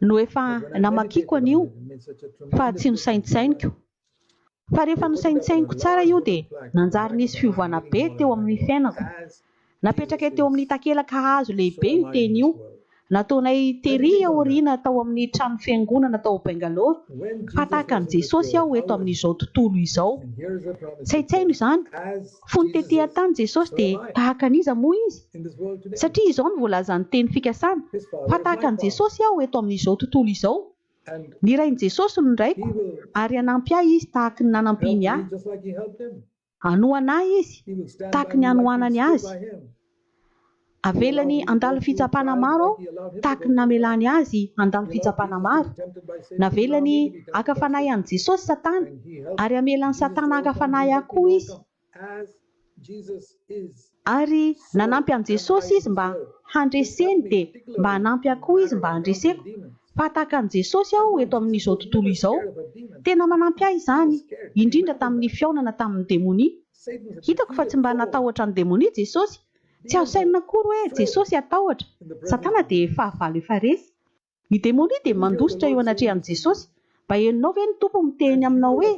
no efa namakiako an'io fa tsy nosaintsainiko. Fa rehefa nosaintsainiko tsara io dia nanjary nisy fiovana be teo amin'ny fiainako. Napetrakay teo amin'ny takelaka hazo lehibe io teny io, nataonay tery aoriana tao amin'ny trano fiangonana tao Bangalore fa tahaka an'i Jesosy aho eto amin'izao tontolo izao. Tsaitsaino izany? Fony tetỳ an-tany Jesosy, dia tahaka an'iza moa izy? Satria izao no voalazan'ny teny fikasana, Fa tahaka an'i Jesosy aho eto amin'izao tontolo izao. Nirahin'i Jesosy ny Raiko, ary hanampy ahy izy tahaka ny nanampiany ahy. Hanohana ahy izy, tahaka ny hanohanany azy. Avelany handalo fitsapana maro aho tahaka ny namelany azy handalo fitsapana maro. Navelany haka fanahy an'i Jesosy Satana, ary hamela an'i Satana haka fanahy ahy koa izy. Ary nanampy an'i Jesosy izy mba handreseny, dia mba hanampy ahy koa izy mba handreseko, fa tahaka an'i Jesosy aho eto amin'izao tontolo izao. Tena manampy ahy izany, indrindra tamin'ny fihaonana tamin'ny demonia. Hitako fa tsy mba natahotra ny demonia Jesosy. Tsy azo sainina akory hoe Jesosy hatahotra. Satana dia fahavalo efa resy. Ny demonia dia mandositra eo anatrehan'i Jesosy. Mba henonao ve ny Tompo miteny aminao hoe,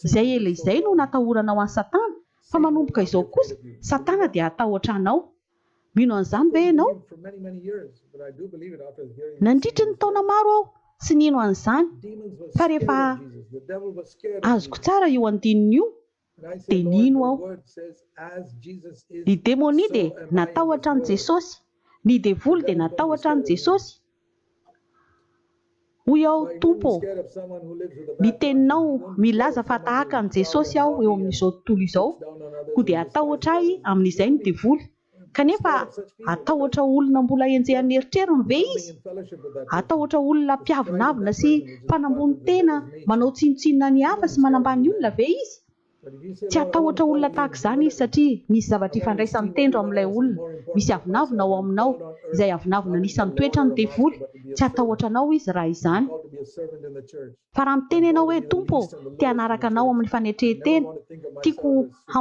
Izay ela izay no natahoranao an'i Satana, fa manomboka izao kosa, Satana dia hatahotra anao. Mino an'izany ve ianao? Nandritry ny taona maro aho tsy nino an'izany, fa rehefa azoko tsara io andininy io, dia nino aho. Ny demonia dia natahotra an'i Jesosy, ny devoly dia natahotra an'i Jesosy. Hoy aho, Tompo ô, ny Teninao milaza fa tahaka an'i Jesosy aho eo amin'izao tontolo izao, koa dia hatahotra ahy amin'izay ny devoly, Kanefa, hatahotra olona mbola henjehan'ny eritreriny ve izy? Hatahotra olona mpiavonavona sy mpanambony tena, manao tsinontsinona ny hafa sy manambany olona ve izy? Tsy hatahotra olona tahaka izany izy, satria misy zavatra ifandraisan'ny tendro amin'ilay olona. Misy avonavona ao aminao, izay avonavona anisan'ny toetran'ny devoly. Tsy hatahotra anao izy raha izany. Fa raha miteny ianao hoe, Tompo ô, te hanaraka Anao amin'ny fanetren-tena, tiako ho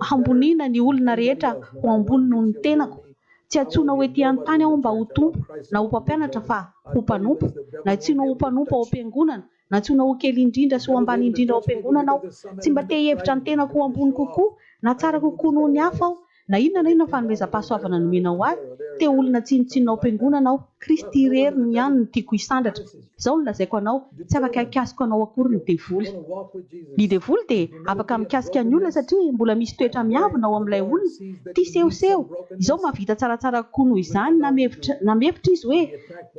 hamboniana ny olona rehetra ho ambony noho ny tenako, tsy antsoinao ety an-tany aho mba ho tompo, na ho mpampianatra fa ho mpanompo, nantsoinao ho mpanompo ao am-piangonana, nantsoinao ho kely indrindra sy ho ambany indrindra ao am-piangonana aho, tsy mba te-hihevitra ny tenako ho ambony kokoa na tsara kokoa noho ny hafa aho, Na inona na inona fanomezam-pahasoavana nomenao ahy, te ho olona tsinontsinona ao am-piangonana aho. Kristy irery no ihany no tiako hisandratra. Izao no lazaiko anao, tsy afaka hikasiko anao akory ny devoly. Ny devoly dia afaka mikasika ny olona satria mbola misy toetra miavona ao amin'ilay olona, tia sehoseho. Izao mahavita tsaratsara kokoa noho izany na mihevitra izy hoe,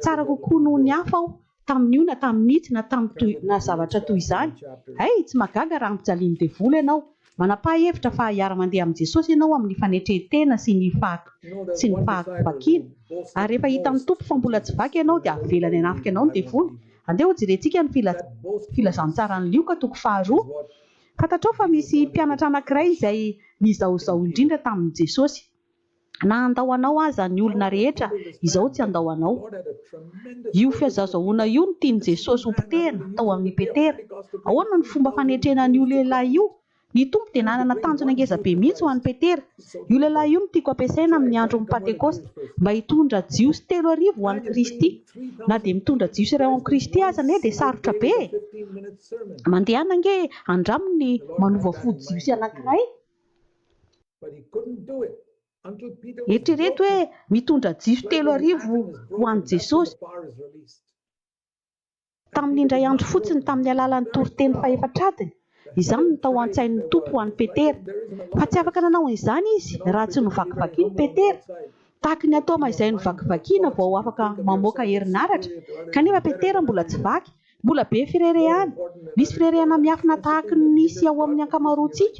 Tsara kokoa noho ny hafa aho, tamin'io na tamin'ity na tamin'ny toy na zavatra toy izany. Hay, tsy mahagaga raha ampijalian'ny devoly ianao. Manapa-hevitra fa hiara-mandeha amin'i Jesosy ianao amin'ny fanetren-tena sy ny sy ny fahakivakiana. Ary rehefa hitan'ny Tompo fa mbola tsy vaky ianao dia avelany hanafika anao ny devoly. Andeha hojerentsika ny Filazantsaran'i Lioka toko faharoa. Fantatrao fa misy mpianatra anankiray izay nizahozaho indrindra tamin'i Jesosy. Na handao anao aza ny olona rehetra, izao tsy handao anao. Io fihazazahoana io no tian'i Jesosy hopotehina tao amin'i Petera. Ahoana no fomba fanetrena an'io lehilahy io? Ny Tompo dia nanana tanjona ngeza be mihitsy ho an'i Petera. Io lehilahy io no tiako ampiasaina amin'ny andron'ny Pantekosta mba hitondra Jiosy telo arivo ho an'i Kristy. Na dia mitondra Jiosy iray ho amin'i Kristy aza anie dia sarotra be e! Mandehana ange handraminy ny manova fo Jiosy anankiray. Eritrereto hoe mitondra jiro telo arivo ho an'i Jesosy tamin'ny indray andro fotsiny tamin'ny alalan'ny toriteny fahefatradiny. Izany no tao an-tsain'ny Tompo ho an'i Petera. Fa tsy afaka nanao an'izany izy raha tsy novakivakiana i Petera. Tahaka ny atoma izay novakivakiana vao afaka mamoaka herinaratra, kanefa Petera mbola tsy vaky Mbola be firerehana. Misy firerehana miafina tahaka ny misy ao amin'ny ankamaroantsika.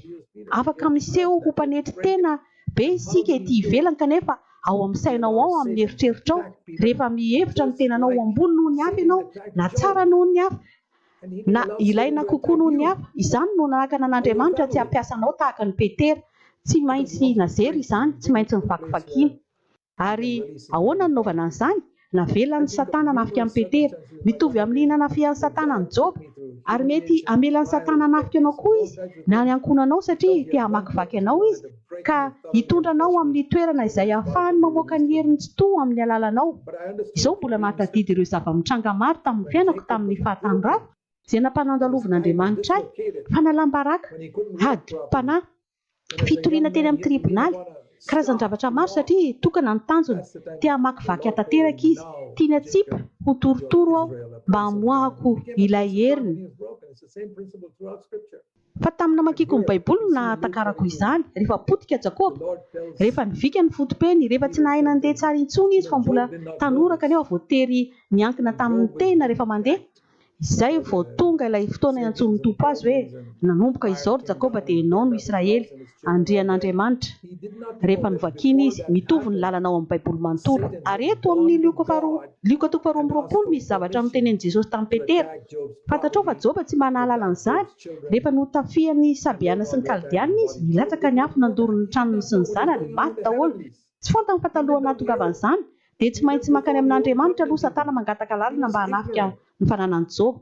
Afaka miseho ho mpanetry tena be isika ety ivelany kanefa ao amin'ny sainao ao amin'ny eritreritrao, rehefa mihevitra ny tenanao ho ambony noho ny hafa ianao, na tsara noho ny hafa, na ilaina kokoa noho ny hafa, izany no nanakana an'Andriamanitra tsy hampiasa anao tahaka an'i Petera. Tsy maintsy nazery izany, tsy maintsy novakivakiana. Ary ahoana no nanaovana an'izany? Navelan'i Satana hanafika an'i Petera. Mitovy amin'ny nanafihan'i Satana an'i Joba. Ary mety hamelan'i Satana hanafika anao koa izy, na ny ankohonanao, satria te hamakivaky anao izy, ka hitondra anao ho amin'ny toerana izay hahafahany mamoaka ny heriny Tsitoha amin'ny alalanao. Izaho mbola mahatadidy ireo zava-mitranga maro tamin'ny fiainako tamin'ny fahatanorako, izay nampanandalovin'Andriamanitra ahy, fanalam-baraka, adim-panahy, fitoriana teny amin'ny tribonaly, karazan-javatra maro satria tokana ny tanjona, te hamakivaky ahy tanteraka izy, tiany hatsipy ho torotoro aho mba hamoahako ilay heriny. Fa tamin'ny namakiako ny Baiboly no nahatakarako izany, rehefa potika Jakoba, rehefa nivika ny foto-peny, rehefa tsy nahay nandeha tsara intsony izy fa mbola tanora kanefa voatery niankina tamin'ny tena rehefa mandeha, Izay vao tonga ilay fotoana iantsoan'ny Tompo azy hoe, Nanomboka izao, ry Jakoba, dia ianao no Israely, Andrian'Andriamanitra. Rehefa novakiny izy, mitovy ny lalana ao amin'ny Baiboly manontolo. Ary eto amin'ny Lioka faharoa, Lioka toko faharoa amby roapolo, misy zavatra notenenin'i Jesosy tamin'i Petera. Fantatrao fa Joba tsy mba nahalala an'izany. Rehefa notafihan'ny Sabeana sy ny Kaldeana izy, nilatsaka ny afo nandoro ny tranony sy ny zanany, maty daholo. Tsy fantany fa talohan'ny nahatongavany izany dia tsy maintsy mankany amin'Andriamanitra aloha Satana mangataka lalana mba hanafika ny fananan'i Joba.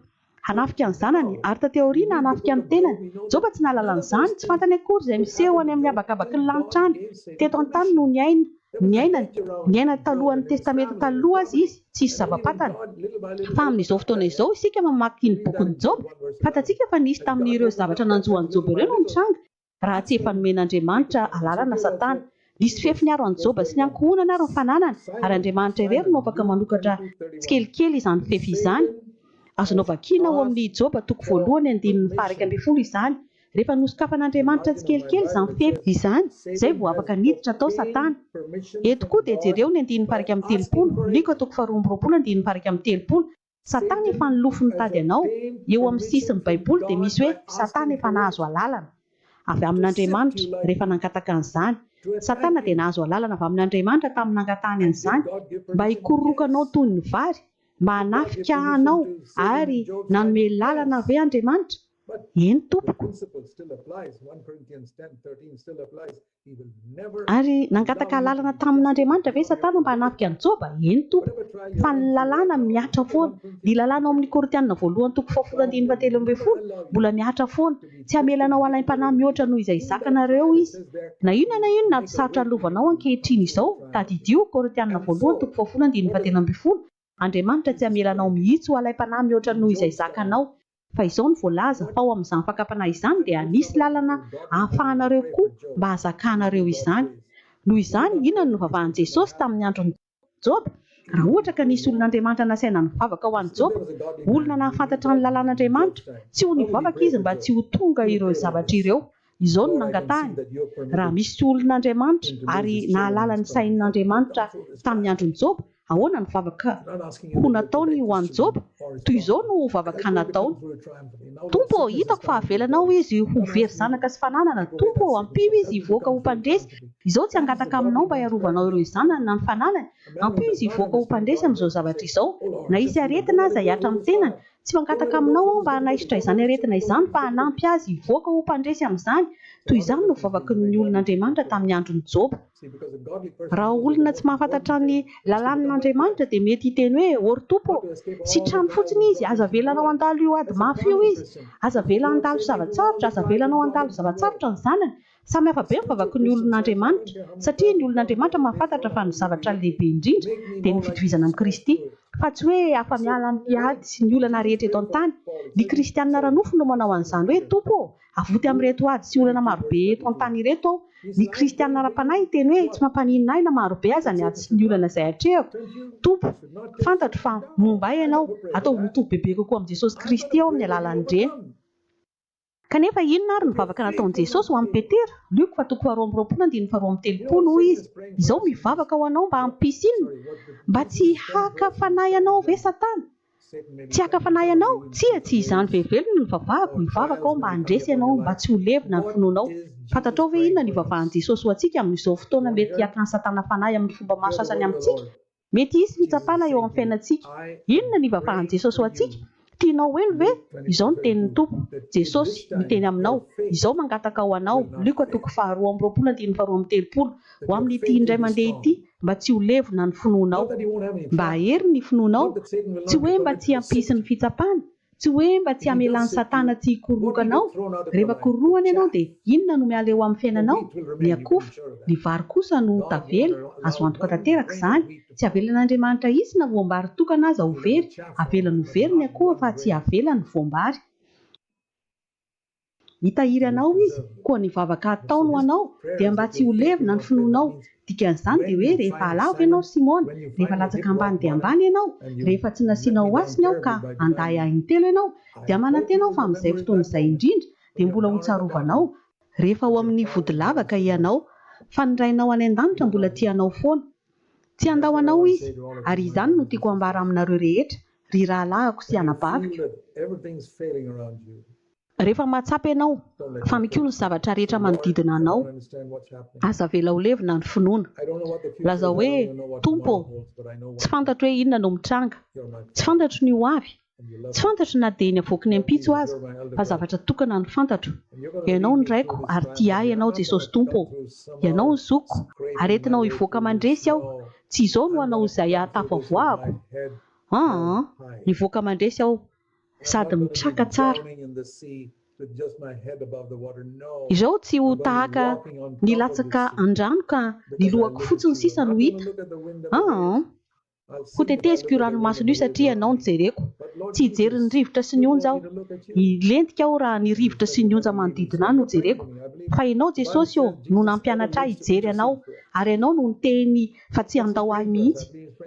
Hanafika ny zanany ary taty aoriana hanafika ny tenany. Joba tsy nahalala an'izany, tsy fantany akory izay miseho any amin'ny habakabaky ny lanitra any. Teto an-tany no niaina, niainany, niainany talohan'ny Testamenta Taloha aza izy, tsisy zava-pantany. Fa amin'izao fotoana izao isika mamaky ny bokin'i Joba, fantatsika fa nisy tamin'ireo zavatra nanjo an'i Joba ireo no nitranga. Raha tsy efa nomen'Andriamanitra alalana Satana. Nisy fefy niaro an'i Joba sy ny ankohonany ary ny fananany, ary Andriamanitra irery no afaka manokatra tsikelikely izany fefy izany. Azonao vakiana ao amin'ny Joba toko voalohany andininy faha-iraika ambin'ny folo izany. Rehefa nosokafan'Andriamanitra tsikelikely izany fefy izany, izay vao afaka niditra tao Satana. Eto koa dia jereo ny andininy faha-iraika amby telopolo, Lioka toko faharoa amby roapolo andininy faha-iraika amby telopolo. Satana efa nilofo nitady anao, eo amin'ny sisin'ny baiboly dia misy hoe satana efa nahazo alalana avy amin'Andriamanitra rehefa nangataka an'izany, satana dia nahazo alalana avy amin'Andriamanitra tamin'ny nangatahany an'izany mba hikororokanao toy ny vary mba hanafika anao ary nanome lalana ve Andriamanitra? Eny tompoko. Ary nangataka alalana tamin' Andriamanitra ve Satana mba hanafika an'i Jôba? Eny, Tompo. Fa ny lalàna mihatra foana. Ny lalàna ao amin' ny Korintiana Voalohany toko fahafolo andininy fahatelo ambin'ny folo mbola mihatra foana, Tsy hamela anao halaim-panahy mihoatra noho izay zakanareo izy. Na inona na inona ady sarotra halovanao ankehitriny izao, tadidio, Korintiana Voalohany toko fahafolo andininy fahatelo ambin'ny folo, Andriamanitra tsy hamela anao mihitsy ho halaim-panahy mihoatra noho izay zakanao. Fa izao no voalaza, fa ao amin'izany fakam-panahy izany dia misy lalana ahafahanareo koa mba hazakanareo izany. Noho izany, inona no novavahan'i Jesosy tamin'ny andron'i Joba? Raha ohatra ka nisy olon'Andriamanitra nasaina nivavaka ho an'i Joba, olona nahafantatra ny lalàn'Andriamanitra, tsy ho nivavaka izy mba tsy ho tonga ireo zavatra ireo, Izao no nangatahiny, Raha misy olon'Andriamanitra ary nahalala ny sain'Andriamanitra tamin'ny andron'i Joba, ahoana no vavaka ho nataony ho an'i Joba? Toy izao no vavaka nataony, Tompo ô, hitako fa avelanao izy ho very zanaka sy fananana. Tompo ô, ampio izy hivoaka ho mpandresy. Izao tsy hangataka aminao mba hiarovanao ireo zanany na ny fananany. Ampio izy hivoaka ho mpandresy amin'izao zavatra izao. Na hisy aretina aza hihatra amin'ny tenany, Tsy mangataka aminao aho mba hanaisotra izany aretina izany fa hanampy azy hivoaka ho mpandresy amin'izany. Toy izany no vavaky ny olon'Andriamanitra tamin'ny andron'i Joba. Raha olona tsy mahafantatra ny lalàn'Andriamanitra dia mety hiteny hoe, Ôry Tompo ô, sitrano fotsiny izy, aza avela anao handalo io ady mafy io izy, aza avela handalo zava-tsarotra, aza avela anao handalo zava-tsarotra ny zanany. Samy hafa be ny vavaky ny olon'Andriamanitra, satria ny olon'Andriamanitra mahafantatra fa ny zavatra lehibe indrindra dia ny fitovizana amin'i Kristy, fa tsy hoe afa-miala amin'ny ady sy ny olana rehetra eto an-tany. Ny kristiana ara-nofo no manao an'izany hoe, Tompo ô, avoty amin'ireto ady sy olana marobe eto an-tany ireto aho. Ny kristiana ara-panahy hiteny hoe, Tsy mampaninona ahy na marobe aza ny ady sy ny olana izay atrehako, Tompo. Fantatro fa momba ahy Ianao. Ataovy ho toby bebe kokoa amin'i Jesosy Kristy aho amin'ny alalan'ireny. Kanefa, inona àry ny vavaka nataon'i Jesosy ho an'i Petera? Lioka fa toko faharoa amby roapolo andininy faharoa amby telopolo, hoy izy, Izao mivavaka ho anao mba hampisy inona? Mba tsy haka fanahy anao ve Satana? Tsy haka fanahy anao? Tsia, tsy izany velively no nivavahako. Mivavaka aho mba handresy anao, mba tsy ho levona ny finoanao. Fantatrao ve inona no ivavahan'i Jesosy ho antsika amin'izao fotoana mety hiakan'i Satana fanahy amin'ny fomba maro sasany amintsika? Mety hisy fitsapana eo amin'ny fiainantsika. Inona ny ivafahan'i Jesosy ho antsika? Tianao ho helo ve? Izao no tenin'ny Tompo, Jesosy, miteny aminao, Izao mangataka ho anao, Lioka toko faharoa amby roapolo andininy faharoa amby telopolo, ho amin'ity indray mandeha ity, mba tsy ho levona ny finoanao. Mba hahery ny finoanao. Tsy hoe mba tsy hampisy ny fitsapana, Tsy hoe mba tsy hamelan'i Satana tsy hikoroka anao. Rehefa korohany ianao dia inona no miala eo amin'ny fiainanao? Ny akofa. Ny vary kosa no tavela. Azo antoka tanteraka izany. Tsy avelan'Andriamanitra hisy na voam-bary tokana aza ho very. Avelany ho very ny akoha fa tsy avelany voam-bary. Hitahiry anao Izy, koa ny vavaka hataony ho anao dia mba tsy ho levona ny finoanao. Dikan'izany dia hoe rehefa halavo ianao Simona, rehefa latsaka ambany dia ambany ianao, rehefa tsy nasianao hoasiny aho ka handahy ahy intelo ianao, dia manantena aho fa amin'izay fotoana izay indrindra dia mbola hotsarovanao, rehefa ao amin'ny vodilavaka ianao, fa ny Rainao any an-danitra mbola tia anao foana. Tsy handao anao izy. Ary izany no tiako hambara aminareo rehetra, ry rahalahiko sy anabaviko. Rehefa mahatsapa ianao fa mikolo ny zavatra rehetra manodidina anao, aza avela ho levona ny finoana. Lazao hoe, Tompo ô, tsy fantatro hoe inona no mitranga. Tsy fantatro ny ho avy. Tsy fantatro na dia ny havoaky ny ampitso aza, fa zavatra tokana no fantatro. Ianao ny Raiko, ary tia ahy Ianao, Jesosy Tompo ô. Ianao ny zokiko, aretinao hivoaka mandresy aho. Tsy izao no hanao izay hahatafo havoahako? Aa, mivoaka mandresy aho, sady mitraka tsara. Izao tsy ho tahaka nilatsaka an-drano ka ny lohako fotsiny sisa no hita. Aa. Hoteteziko io ranomasony io satria ianao no jereko. Tsy hijery ny rivotra sy ny onja aho. Hilentika aho raha ny rivotra sy ny onja manodidina ahy no jereko. Fa ianao Jesosy ô no nampianatra ahy hijery anao ary ianao no niteny fa tsy handao ahy mihitsy.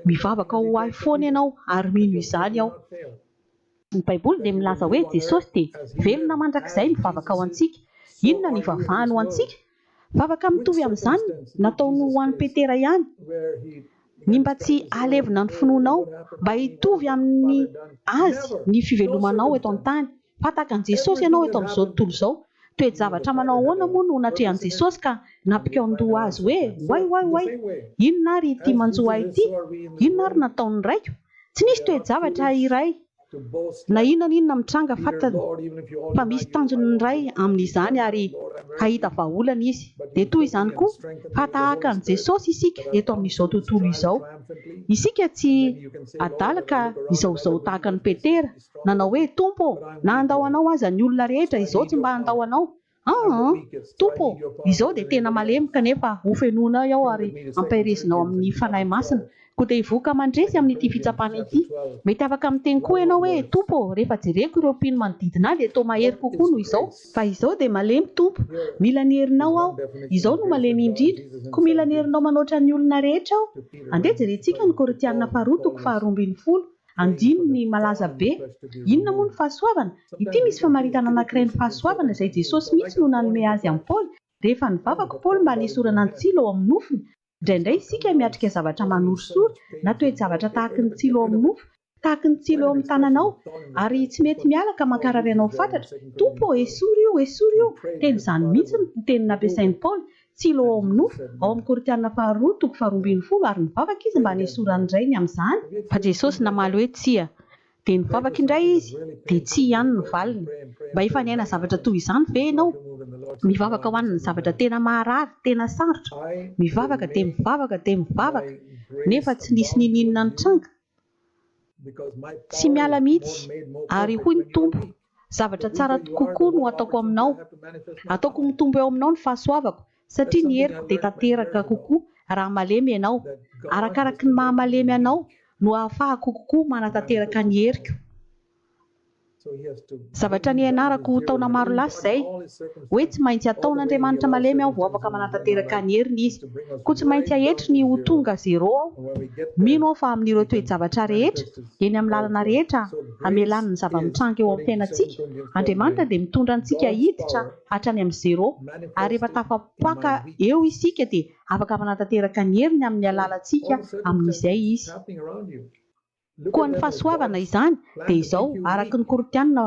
Mivavaka ho ahy foana ianao ary mino izany aho. Ny baiboly dia milaza hoe Jesosy dia velona mandrakizay mivavaka ho antsika. Inona no ivavahany ho antsika? Vavaka mitovy amin'izany nataony ho an'i Petera ihany ny mba tsy hahalevona ny finoanao, mba hitovy amin'ny Azy ny fivelomanao eto an-tany. Fa tahaka an'i Jesosy ianao eto amin'izao tontolo izao. Toe-javatra manao ahoana moa no natrehan'i Jesosy ka nampikaon-doha Azy hoe, Oay, oay, oay! Inona ary ity manjo ahy ity? Inona ary nataon'ny Raiko? Tsy nisy toe-javatra iray. Na inona na inona mitranga, fantany fa misy tanjony ny Ray amin'izany ary hahita vahaolana Izy. Dia toy izany koa, fa tahaka an'i Jesosy isika eto amin'izao tontolo izao. Isika tsy adala ka hizahozaho tahaka an'i Petera, nanao hoe, Tompo ô, na handao Anao aza ny olona rehetra izao tsy mba handao Anao. Aa! Tompo ô! Izao dia tena malemy kanefa hofenoinao aho ary ampaherezinao amin'ny Fanahy Masina, koa te hivoaka mandresy amin'ity fitsapana ity. Mety afaka miteny koa ianao hoe, Tompo ô, rehefa jereko ireo mpino manodidina ahy dia toa mahery kokoa noho izao. Fa izao dia malemy Tompo, mila ny herinao aho. Izao no malemy indrindra, koa mila ny herinao manoatra ny olona rehetra aho. Andeha jerentsika ny Korintiana faharoa toko faharoa ambin'ny folo, Andininy malaza be. Inona moa ny fahasoavana? Ity misy famaritana anankiray ny fahasoavana izay Jesosy mihitsy no nanome azy an'i Paoly, Rehefa nivavak'i Paoly mba hanesorana ny tsilo ao amin'ny nofony, indraindray isika miatrika zavatra manorisory na toe-javatra tahaky ny tsilo ao amin'ny nofo, tahaky ny tsilo eo amin'ny tananao, ary tsy mety miala ka mankarary anao fatratra, Tompo ô, esory io, esory io! Teny izany mihitsy no teny nampiasain'i Paoly, Tsilo ao amin'ny nofo, ao amin'ny Korintiana Faharoa toko faharoa ambin'ny folo, ary nivavaka izy mba hanesoran'ny Rainy amin'izany, fa Jesosy namaly hoe tsia, dia nivavaka indray izy, dia tsia ihany no valiny, mba hifanehana zavatra toy izany ve ianao? mivavaka ho an'ny zavatra tena maharary, tena sarotra, mivavaka dia mivavaka dia mivavaka, nefa tsy nisy n'inon'inona nitranga, Tsy miala mihitsy, ary hoy ny Tompo, Zavatra tsara kokoa no ataoko aminao. Ataoko mitombo eo aminao ny fahasoavako, satria ny heriko dia tanteraka kokoa raha malemy ianao. Arakaraky ny maha-malemy anao no ahafahako kokoa manatanteraka ny heriko. Zavatra nianarako taona maro lasa izay, hoe tsy maintsy ataon'Andriamanitra malemy aho vao afaka manatanteraka ny heriny Izy. Koa tsy maintsy ahetry ny ho tonga zero aho. Mino aho fa amin'ireo toe-javatra rehetra, eny amin'ny lalana rehetra hamelany ny zava-mitranga eo amin'ny fiainantsika, Andriamanitra dia mitondra antsika hiditra hatrany amin'ny zero. Ary rehefa tafapaka eo isika dia afaka manatanteraka ny heriny amin'ny alalantsika amin'izay Izy. Koa ny fahasoavana izany dia izao, araka ny Korintiana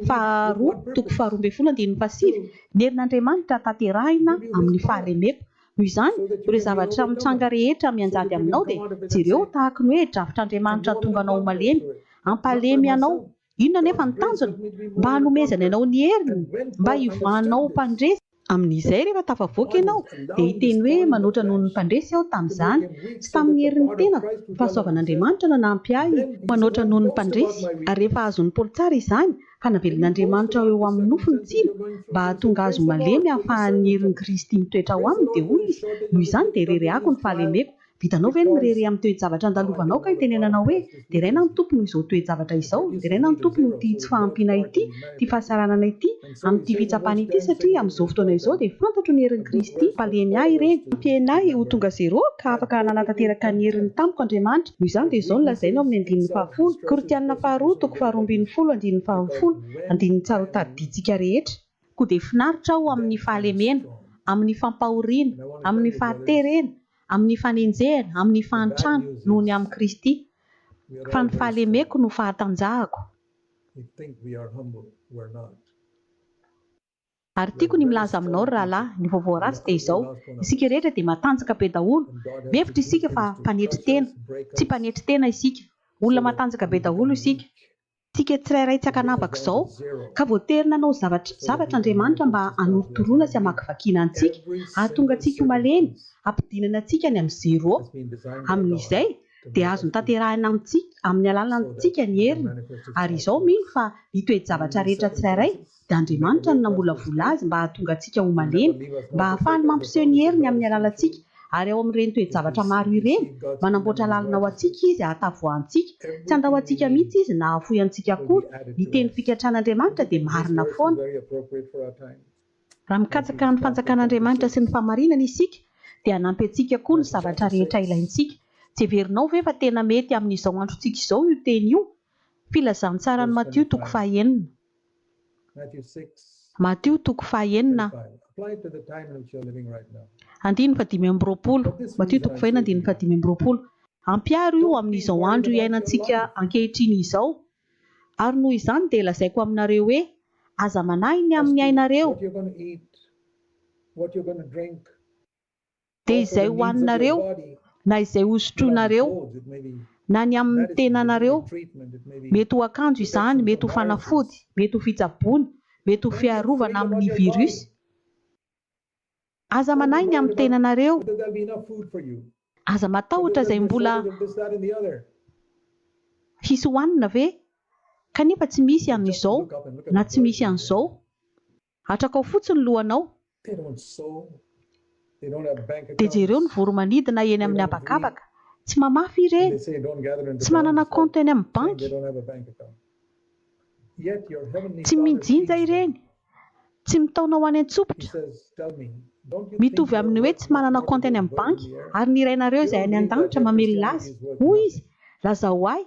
faha roa toko faha roa ambin'ny folo andininy faha sivy, Ny herin'Andriamanitra tanterahina amin'ny fahalemeko. Noho izany, ireo zavatra mitranga rehetra mianjady aminao dia jereo tahaka ny hoe drafitr'Andriamanitra hahatonga anao ho malemy, hampalemy anao Inona anefa ny tanjona? Mba hanomezany anao ny heriny, mba hivahana ho mpandresy. Amin'izay, rehefa tafavoaka ianao, dia hiteny hoe, Manoatra noho ny mpandresy aho tamin'izany, tsy tamin'ny herin'ny tenako. Ny fahasoavan'Andriamanitra no nanampy ahy ho manoatra noho ny mpandresy. Ary rehefa azon'i Paoly tsara izany, ka navelin'Andriamanitra ho eo amin'ny nofo ny tsilo, mba hahatonga azy ho malemy ahafahan'ny herin'i Kristy mitoetra ao aminy, dia hoy izy, Noho izany dia rerehako ny fahalemeko, Vitanao ve ny mirehareha amin'ny toe-javatra andalovanao ka itenenanao hoe, Deraina ny Tompo noho izao toe-javatra izao, deraina ny Tompo noho ity tsy fahampiana ity, ity fahasaranana ity, amin'ity fitsapana ity satria amin'izao fotoana izao dia fantatro ny herin'i Kristy mpalemy ahy ireny, nampiany ahy ho tonga zero ka afaka nanatanteraka ny heriny tamiko Andriamanitra, noho izany dia izao no lazainy ao amin'ny andininy fahafolo, Korintiana faharoa toko faharoa ambin'ny folo andininy fahafolo, andininy tsara ho tadidintsika rehetra. Koa dia finaritra aho amin'ny fahalemena, amin'ny fampahoriana, amin'ny fahaterena, Amin'ny fanenjehana, amin'ny fahantrana, noho ny amin'i Kristy, fa ny fahalemeko no fahatanjahako. Ary tiako ny milaza aminao, ry rahalahy, ny vaovao ratsy dia izao, isika rehetra dia matanjaka be daholo, mihevitra isika fa mpanetry tena, tsy mpanetry tena isika, olona matanjaka be daholo isika. Tsika tsirairay tsy ankanavaka izao, ka voatery nanao zavatra zavatra Andriamanitra mba hanorotoroana sy hamakivakiana antsika, hahatonga antsika ho malemy, hampidinana antsika any amin'ny zero. Amin'izay, dia azony tanterahina amintsika, amin'ny alalantsika ny heriny. Ary izao, mino fa ny toe-javatra rehetra tsirairay, dia Andriamanitra no namolavola azy mba hahatonga antsika ho malemy, mba hahafahany mampiseho ny heriny amin'ny alalantsika, ary ao amin'ireny toe-javatra maro ireny, manamboatra lalana ho antsika Izy hahatafo antsika, tsy handao antsika mihitsy Izy na hahafoy antsika akory, ny teny fikatran'Andriamanitra dia marina foana. Raha mikatsaka ny fanjakan'Andriamanitra sy ny fahamarinana isika, dia hanampy antsika koa ny zavatra rehetra ilaintsika. Tsy heverinao ve fa tena mety amin'izao androntsika izao io teny io? Filazantsaran'i Matio toko faha enina. Matio toko fahenina andininy fahadimy amby roapolo Matio toko fahenina andininy fahadimy amby roapolo Ampiharo io amin'izao andro iainantsika ankehitriny izao Ary noho izany dia lazaiko aminareo hoe, Aza manahy ny amin'ny ainareo, dia izay hohaninareo na izay hosotroinareo na ny amin' ny tenanareo, mety ho akanjo izany, mety ho fanafody, mety ho fitsaboana, mety ho fiarovana amin' ny virus. Aza manahy ny amin' ny tenanareo, aza matahotra izay mbola hisy hohanina ve kanefa tsy misy an' izao na tsy misy an' izao. Atrakao fotsiny lohanao. Dia jereo ny voro-manidina eny amin'ny habakabaka. Tsy mamafy ireny. Tsy manana kaonty any amin'ny banky. Tsy mijinja ireny. Tsy mitaona ho any an-tsopitra. Mitovy amin'ny hoe tsy manana kaonty any amin'ny banky, ary ny Rainareo izay any an-danitra mamelona azy. Hoy izy, Lazao ahy.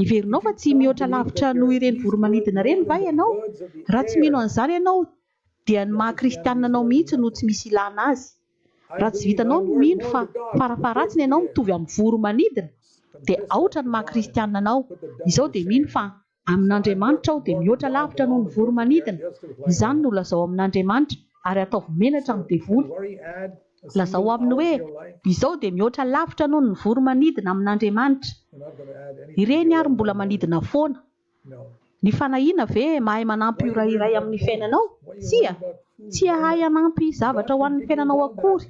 Heverinao fa tsy mihoatra lavitra noho ireny voro-manidina ireny va ianao? Raha tsy mino an'izany ianao, dia ny maha-kristianina anao mihitsy no tsy misy ilana azy. Raha tsy vitanao ny mino fa farafaharatsiny ianao mitovy amin'ny voro-manidina, dia aotra ny maha-kristianina anao. Izao dia mino fa amin'Andriamanitra aho dia mihoatra lavitra noho ny voro-manidina. Izany no lazao amin'Andriamanitra, ary ataovy menatra amin'ny devoly. Lazao aminy hoe, Izao dia mihoatra lavitra noho ny vory manidina amin'Andriamanitra. Ireny àry mbola manidina foana. Ny fanahiana ve mahay manampy ora iray amin'ny fiainanao? Tsia. Tsy hahay hanampy zavatra ho an'ny fiainanao akory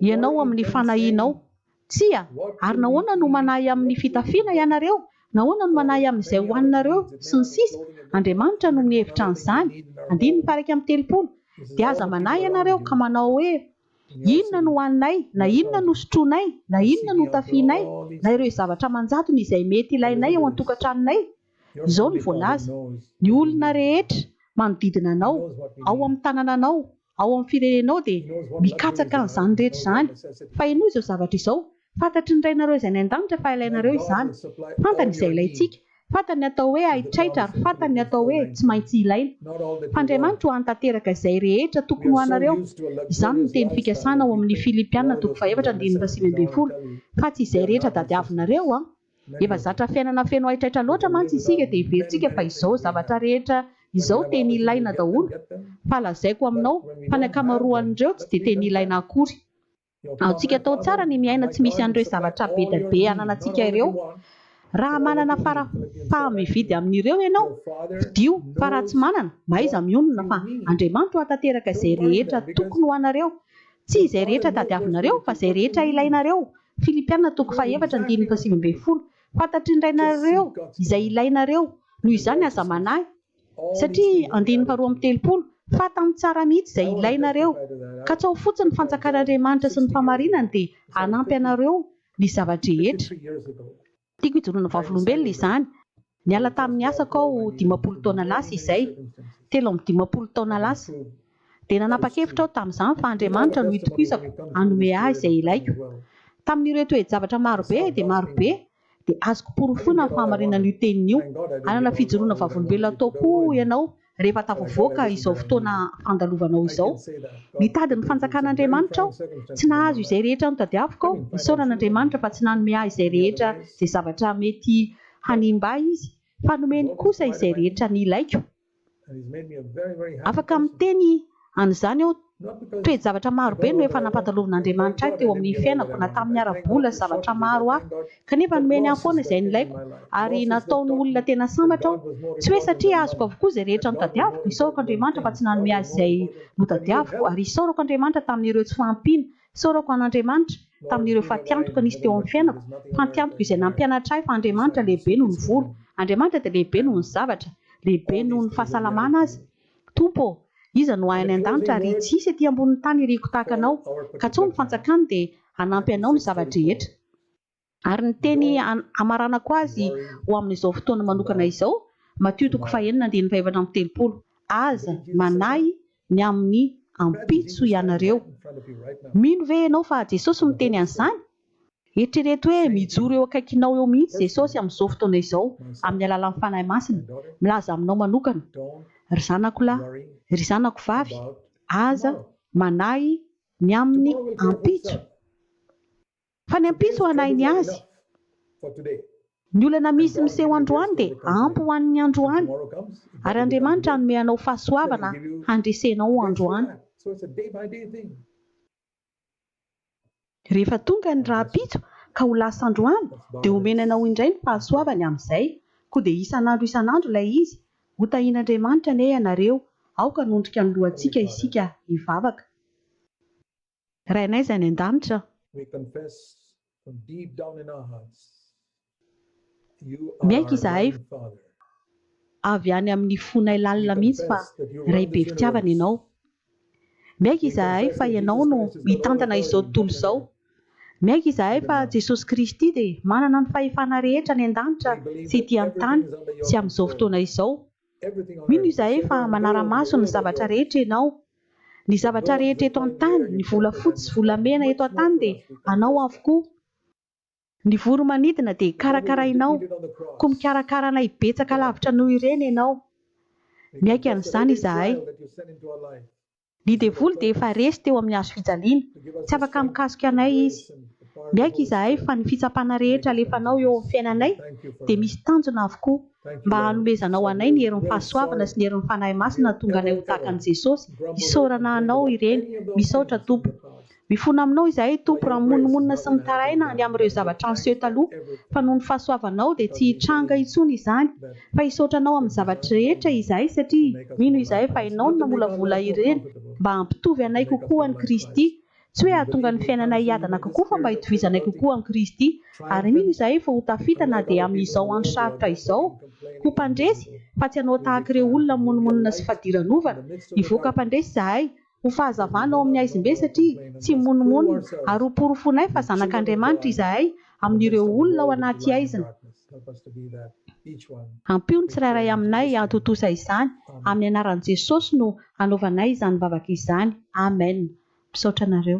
ianao amin'ny fanahianao. Tsia, ary nahoana no manahy amin'ny fitafiana ianareo? Nahoana no manahy amin'izay hohaninareo? sy ny sisa Andriamanitra no mihevitra an'izany. Andininy faha iraika amby telopolo Dia aza manahy ianareo ka manao hoe, Inona no hohaninay? na Inona no sotroinay? na Inona no hotafianay? na ireo zavatra aman-jatony izay mety ilainay ao an-tokantranonay. Izao no voalaza, Ny olona rehetra manodidina anao, ao amin'ny tanànanao, ao amin'ny firenenao dia mikatsaka an'izany rehetra izany. Fahenoy izao zavatra izao, Fantatry ny Rainareo izay any an-danitra fa ilainareo izany. Fantany izay ilaintsika. Fantany ny atao hoe haitraitra ary fantany ny atao hoe tsy maintsy ilaina. Fa Andriamanitra ho any tanteraka izay rehetra tokony ho anareo. Izany no teny fikasana ao amin'ny Filipiana toko fahefatra andininy fahasivy ambin'ny folo, fa tsy izay rehetra tadiavinareo an! Efa zatra fiainana feno haitraitra loatra mantsy isika dia heverintsika fa izao zavatra rehetra izao teny ilaina daholo fa lazaiko aminao fa ny ankamaroan'ireo tsy dia teny ilaina akory. Aotsika atao tsara ny miaina tsy misy an'ireo zavatra bedabe ananantsika ireo. Raha manana fara faha-mividy amin'ireo ianao, fidio fa raha tsy manana, mahaiza mionona fa Andriamanitra ho hatateraka izay rehetra tokony ho anareo Tsy izay rehetra tadiavinareo, fa izay rehetra ilainareo. Filipiana toko fahefatra andininy fahasivy ambin'ny folo. Fantatry ny Rainareo izay ilainareo. Noho izany aza manahy. Satria, andininy faharoa amby telopolo, Fatany tsara mihitsy izay ilainareo. Katsaho fotsiny ny fanjakan'Andriamanitra sy ny fahamarinany dia hanampy anareo ny zava-drehetra. Tiako hijoroana vavolombelona izany. Niala tamin'ny asako aho dimampolo taona lasa izay, telo amby dimampolo taona lasa. Dia nanapa-kevitra aho tamin'izany fa Andriamanitra no itokisako hanome ahy izay ilaiko. Tamin'ireo toe-javatra marobe dia marobe, dia azoko porofoina ny fahamarinan'io teniny io. Hanana fijoroana vavolombelona tokoa ianao Rehefa tafavoaka izao fotoana fandalovanao izao, nitady ny fanjakan'Andriamanitra aho, tsy nahazo izay rehetra notadiaviko aho, isaorana Andriamanitra fa tsy nanome ahy izay rehetra izay zavatra mety hanimba ahy Izy, fa nomeny kosa izay rehetra nilaiko. Afaka miteny an'izany aho. Toe-javatra maro be no efa nampandalovin'Andriamanitra ahy teo amin'ny fiainako na tamin'ny ara-bola sy zavatra maro hafa, kanefa nomeny ahy foana izay nilaiko ary nataony olona tena sambatra aho. Tsy hoe satria azoko avokoa izay rehetra notadiaviko, isaorako Andriamanitra fa tsy nanome azy izay notadiaviko, ary isaorako Andriamanitra tamin'ireo tsy fahampiana. Isaorako an'Andriamanitra tamin'ireo fatiantoka nisy teo amin'ny fiainako, fatiantoka izay nampianatra ahy fa Andriamanitra lehibe noho ny vola, Andriamanitra dia lehibe noho ny zavatra, lehibe noho ny fahasalamana aza. Tompo ô, iza no ahy any an-danitra ary tsy hisy ety ambonin'ny tany iriko tahaka Anao, ka tsoa ny fantsakany dia hanampy anao ny zava-drehetra. Ary ny teny hamaranako azy ho amin'izao fotoana manokana izao, Matio toko fahenina andininy fahefatra amby telopolo, Aza manahy ny amin'ny ampitso ianareo. Mino ve ianao fa Jesosy miteny an'izany? Eritrereto hoe mijoro eo akaikinao eo mihitsy Jesosy amin'izao fotoana izao amin'ny alalan'ny Fanahy Masina, milaza aminao manokana, Ry zanako lahy, ry zanako vavy, aza manahy ny amin'ny ampitso, fa ny ampitso hanahy ny azy. Ny olana misy miseho androany dia ampy ho an'ny androany, ary Andriamanitra hanome anao fahasoavana handresenao androany. Rehefa tonga ny rahampitso ka ho lasa androany dia homena anao indray ny fahasoavany amin'izay, koa dia isan'andro isan'andro ilay izy, hotahian'Andriamanitra anie ianareo, aoka hanondrika ny lohantsika isika hivavaka. Rainay izay any an-danitra. Miaiky izahay fa avy any amin'ny fonay lalina mihitsy fa Ray be fitiavana Ianao. Miaiky izahay fa Ianao no mitantana izao tontolo izao. Miaiky izahay fa Jesosy Kristy dia manana ny fahefana rehetra any an-danitra sy ety an-tany sy amin'izao fotoana izao. Mino izahay fa manara-maso ny zavatra rehetra Ianao. Ny zavatra rehetra eto an-tany, ny volafotsy sy volamena eto an-tany dia Anao avokoa. Ny voro-manidina dia karakarainao, koa mikarakara anay betsaka lavitra noho ireny ianao. Miaiky an'izany izahay. Ny devoly dia efa resy teo amin'ny hazo fijaliana, tsy afaka mikasoka anay izy. Miaiky izahay fa ny fitsapana rehetra alefanao eo amin'ny fiainanay dia misy tanjona avokoa, mba hanomezanao anay ny herin'ny fahasoavana sy ny herin'ny Fanahy Masina hahatonga anay ho tahaka an'i Jesosy, isaorana Anao ireny, misaotra Tompo. Mifona aminao izahay Tompo raha mimonomonona sy mitaraina ny amin'ireo zavatra niseho taloha, fa noho ny fahasoavanao dia tsy hitranga intsony izany, fa hisaotra anao amin'ny zavatra rehetra izahay satria mino izahay fa ianao no namolavola ireny mba hampitovy anay kokoa an'i Kristy, tsy hoe hahatonga ny fiainanay hiadana kokoa fa mba hitovizanay kokoa amin'i Kristy, ary mino izahay fa ho tafita na dia amin'izao andro sarotra izao, ho mpandresy, fa tsy hanao tahaka ireo olona mimonomonona sy fadiranovana, hivoaka mpandresy izahay, Ho fahazavana ao amin'ny haizimbe satria tsy mimonomonona, ary ho porofoinay fa zanak'Andriamanitra izahay amin'ireo olona ao anaty haizina. Ampio ny tsirairay aminay hantontosa izany, amin'ny anaran'i Jesosy no hanaovanay izany vavaka izany. Amen. Misaotra anareo.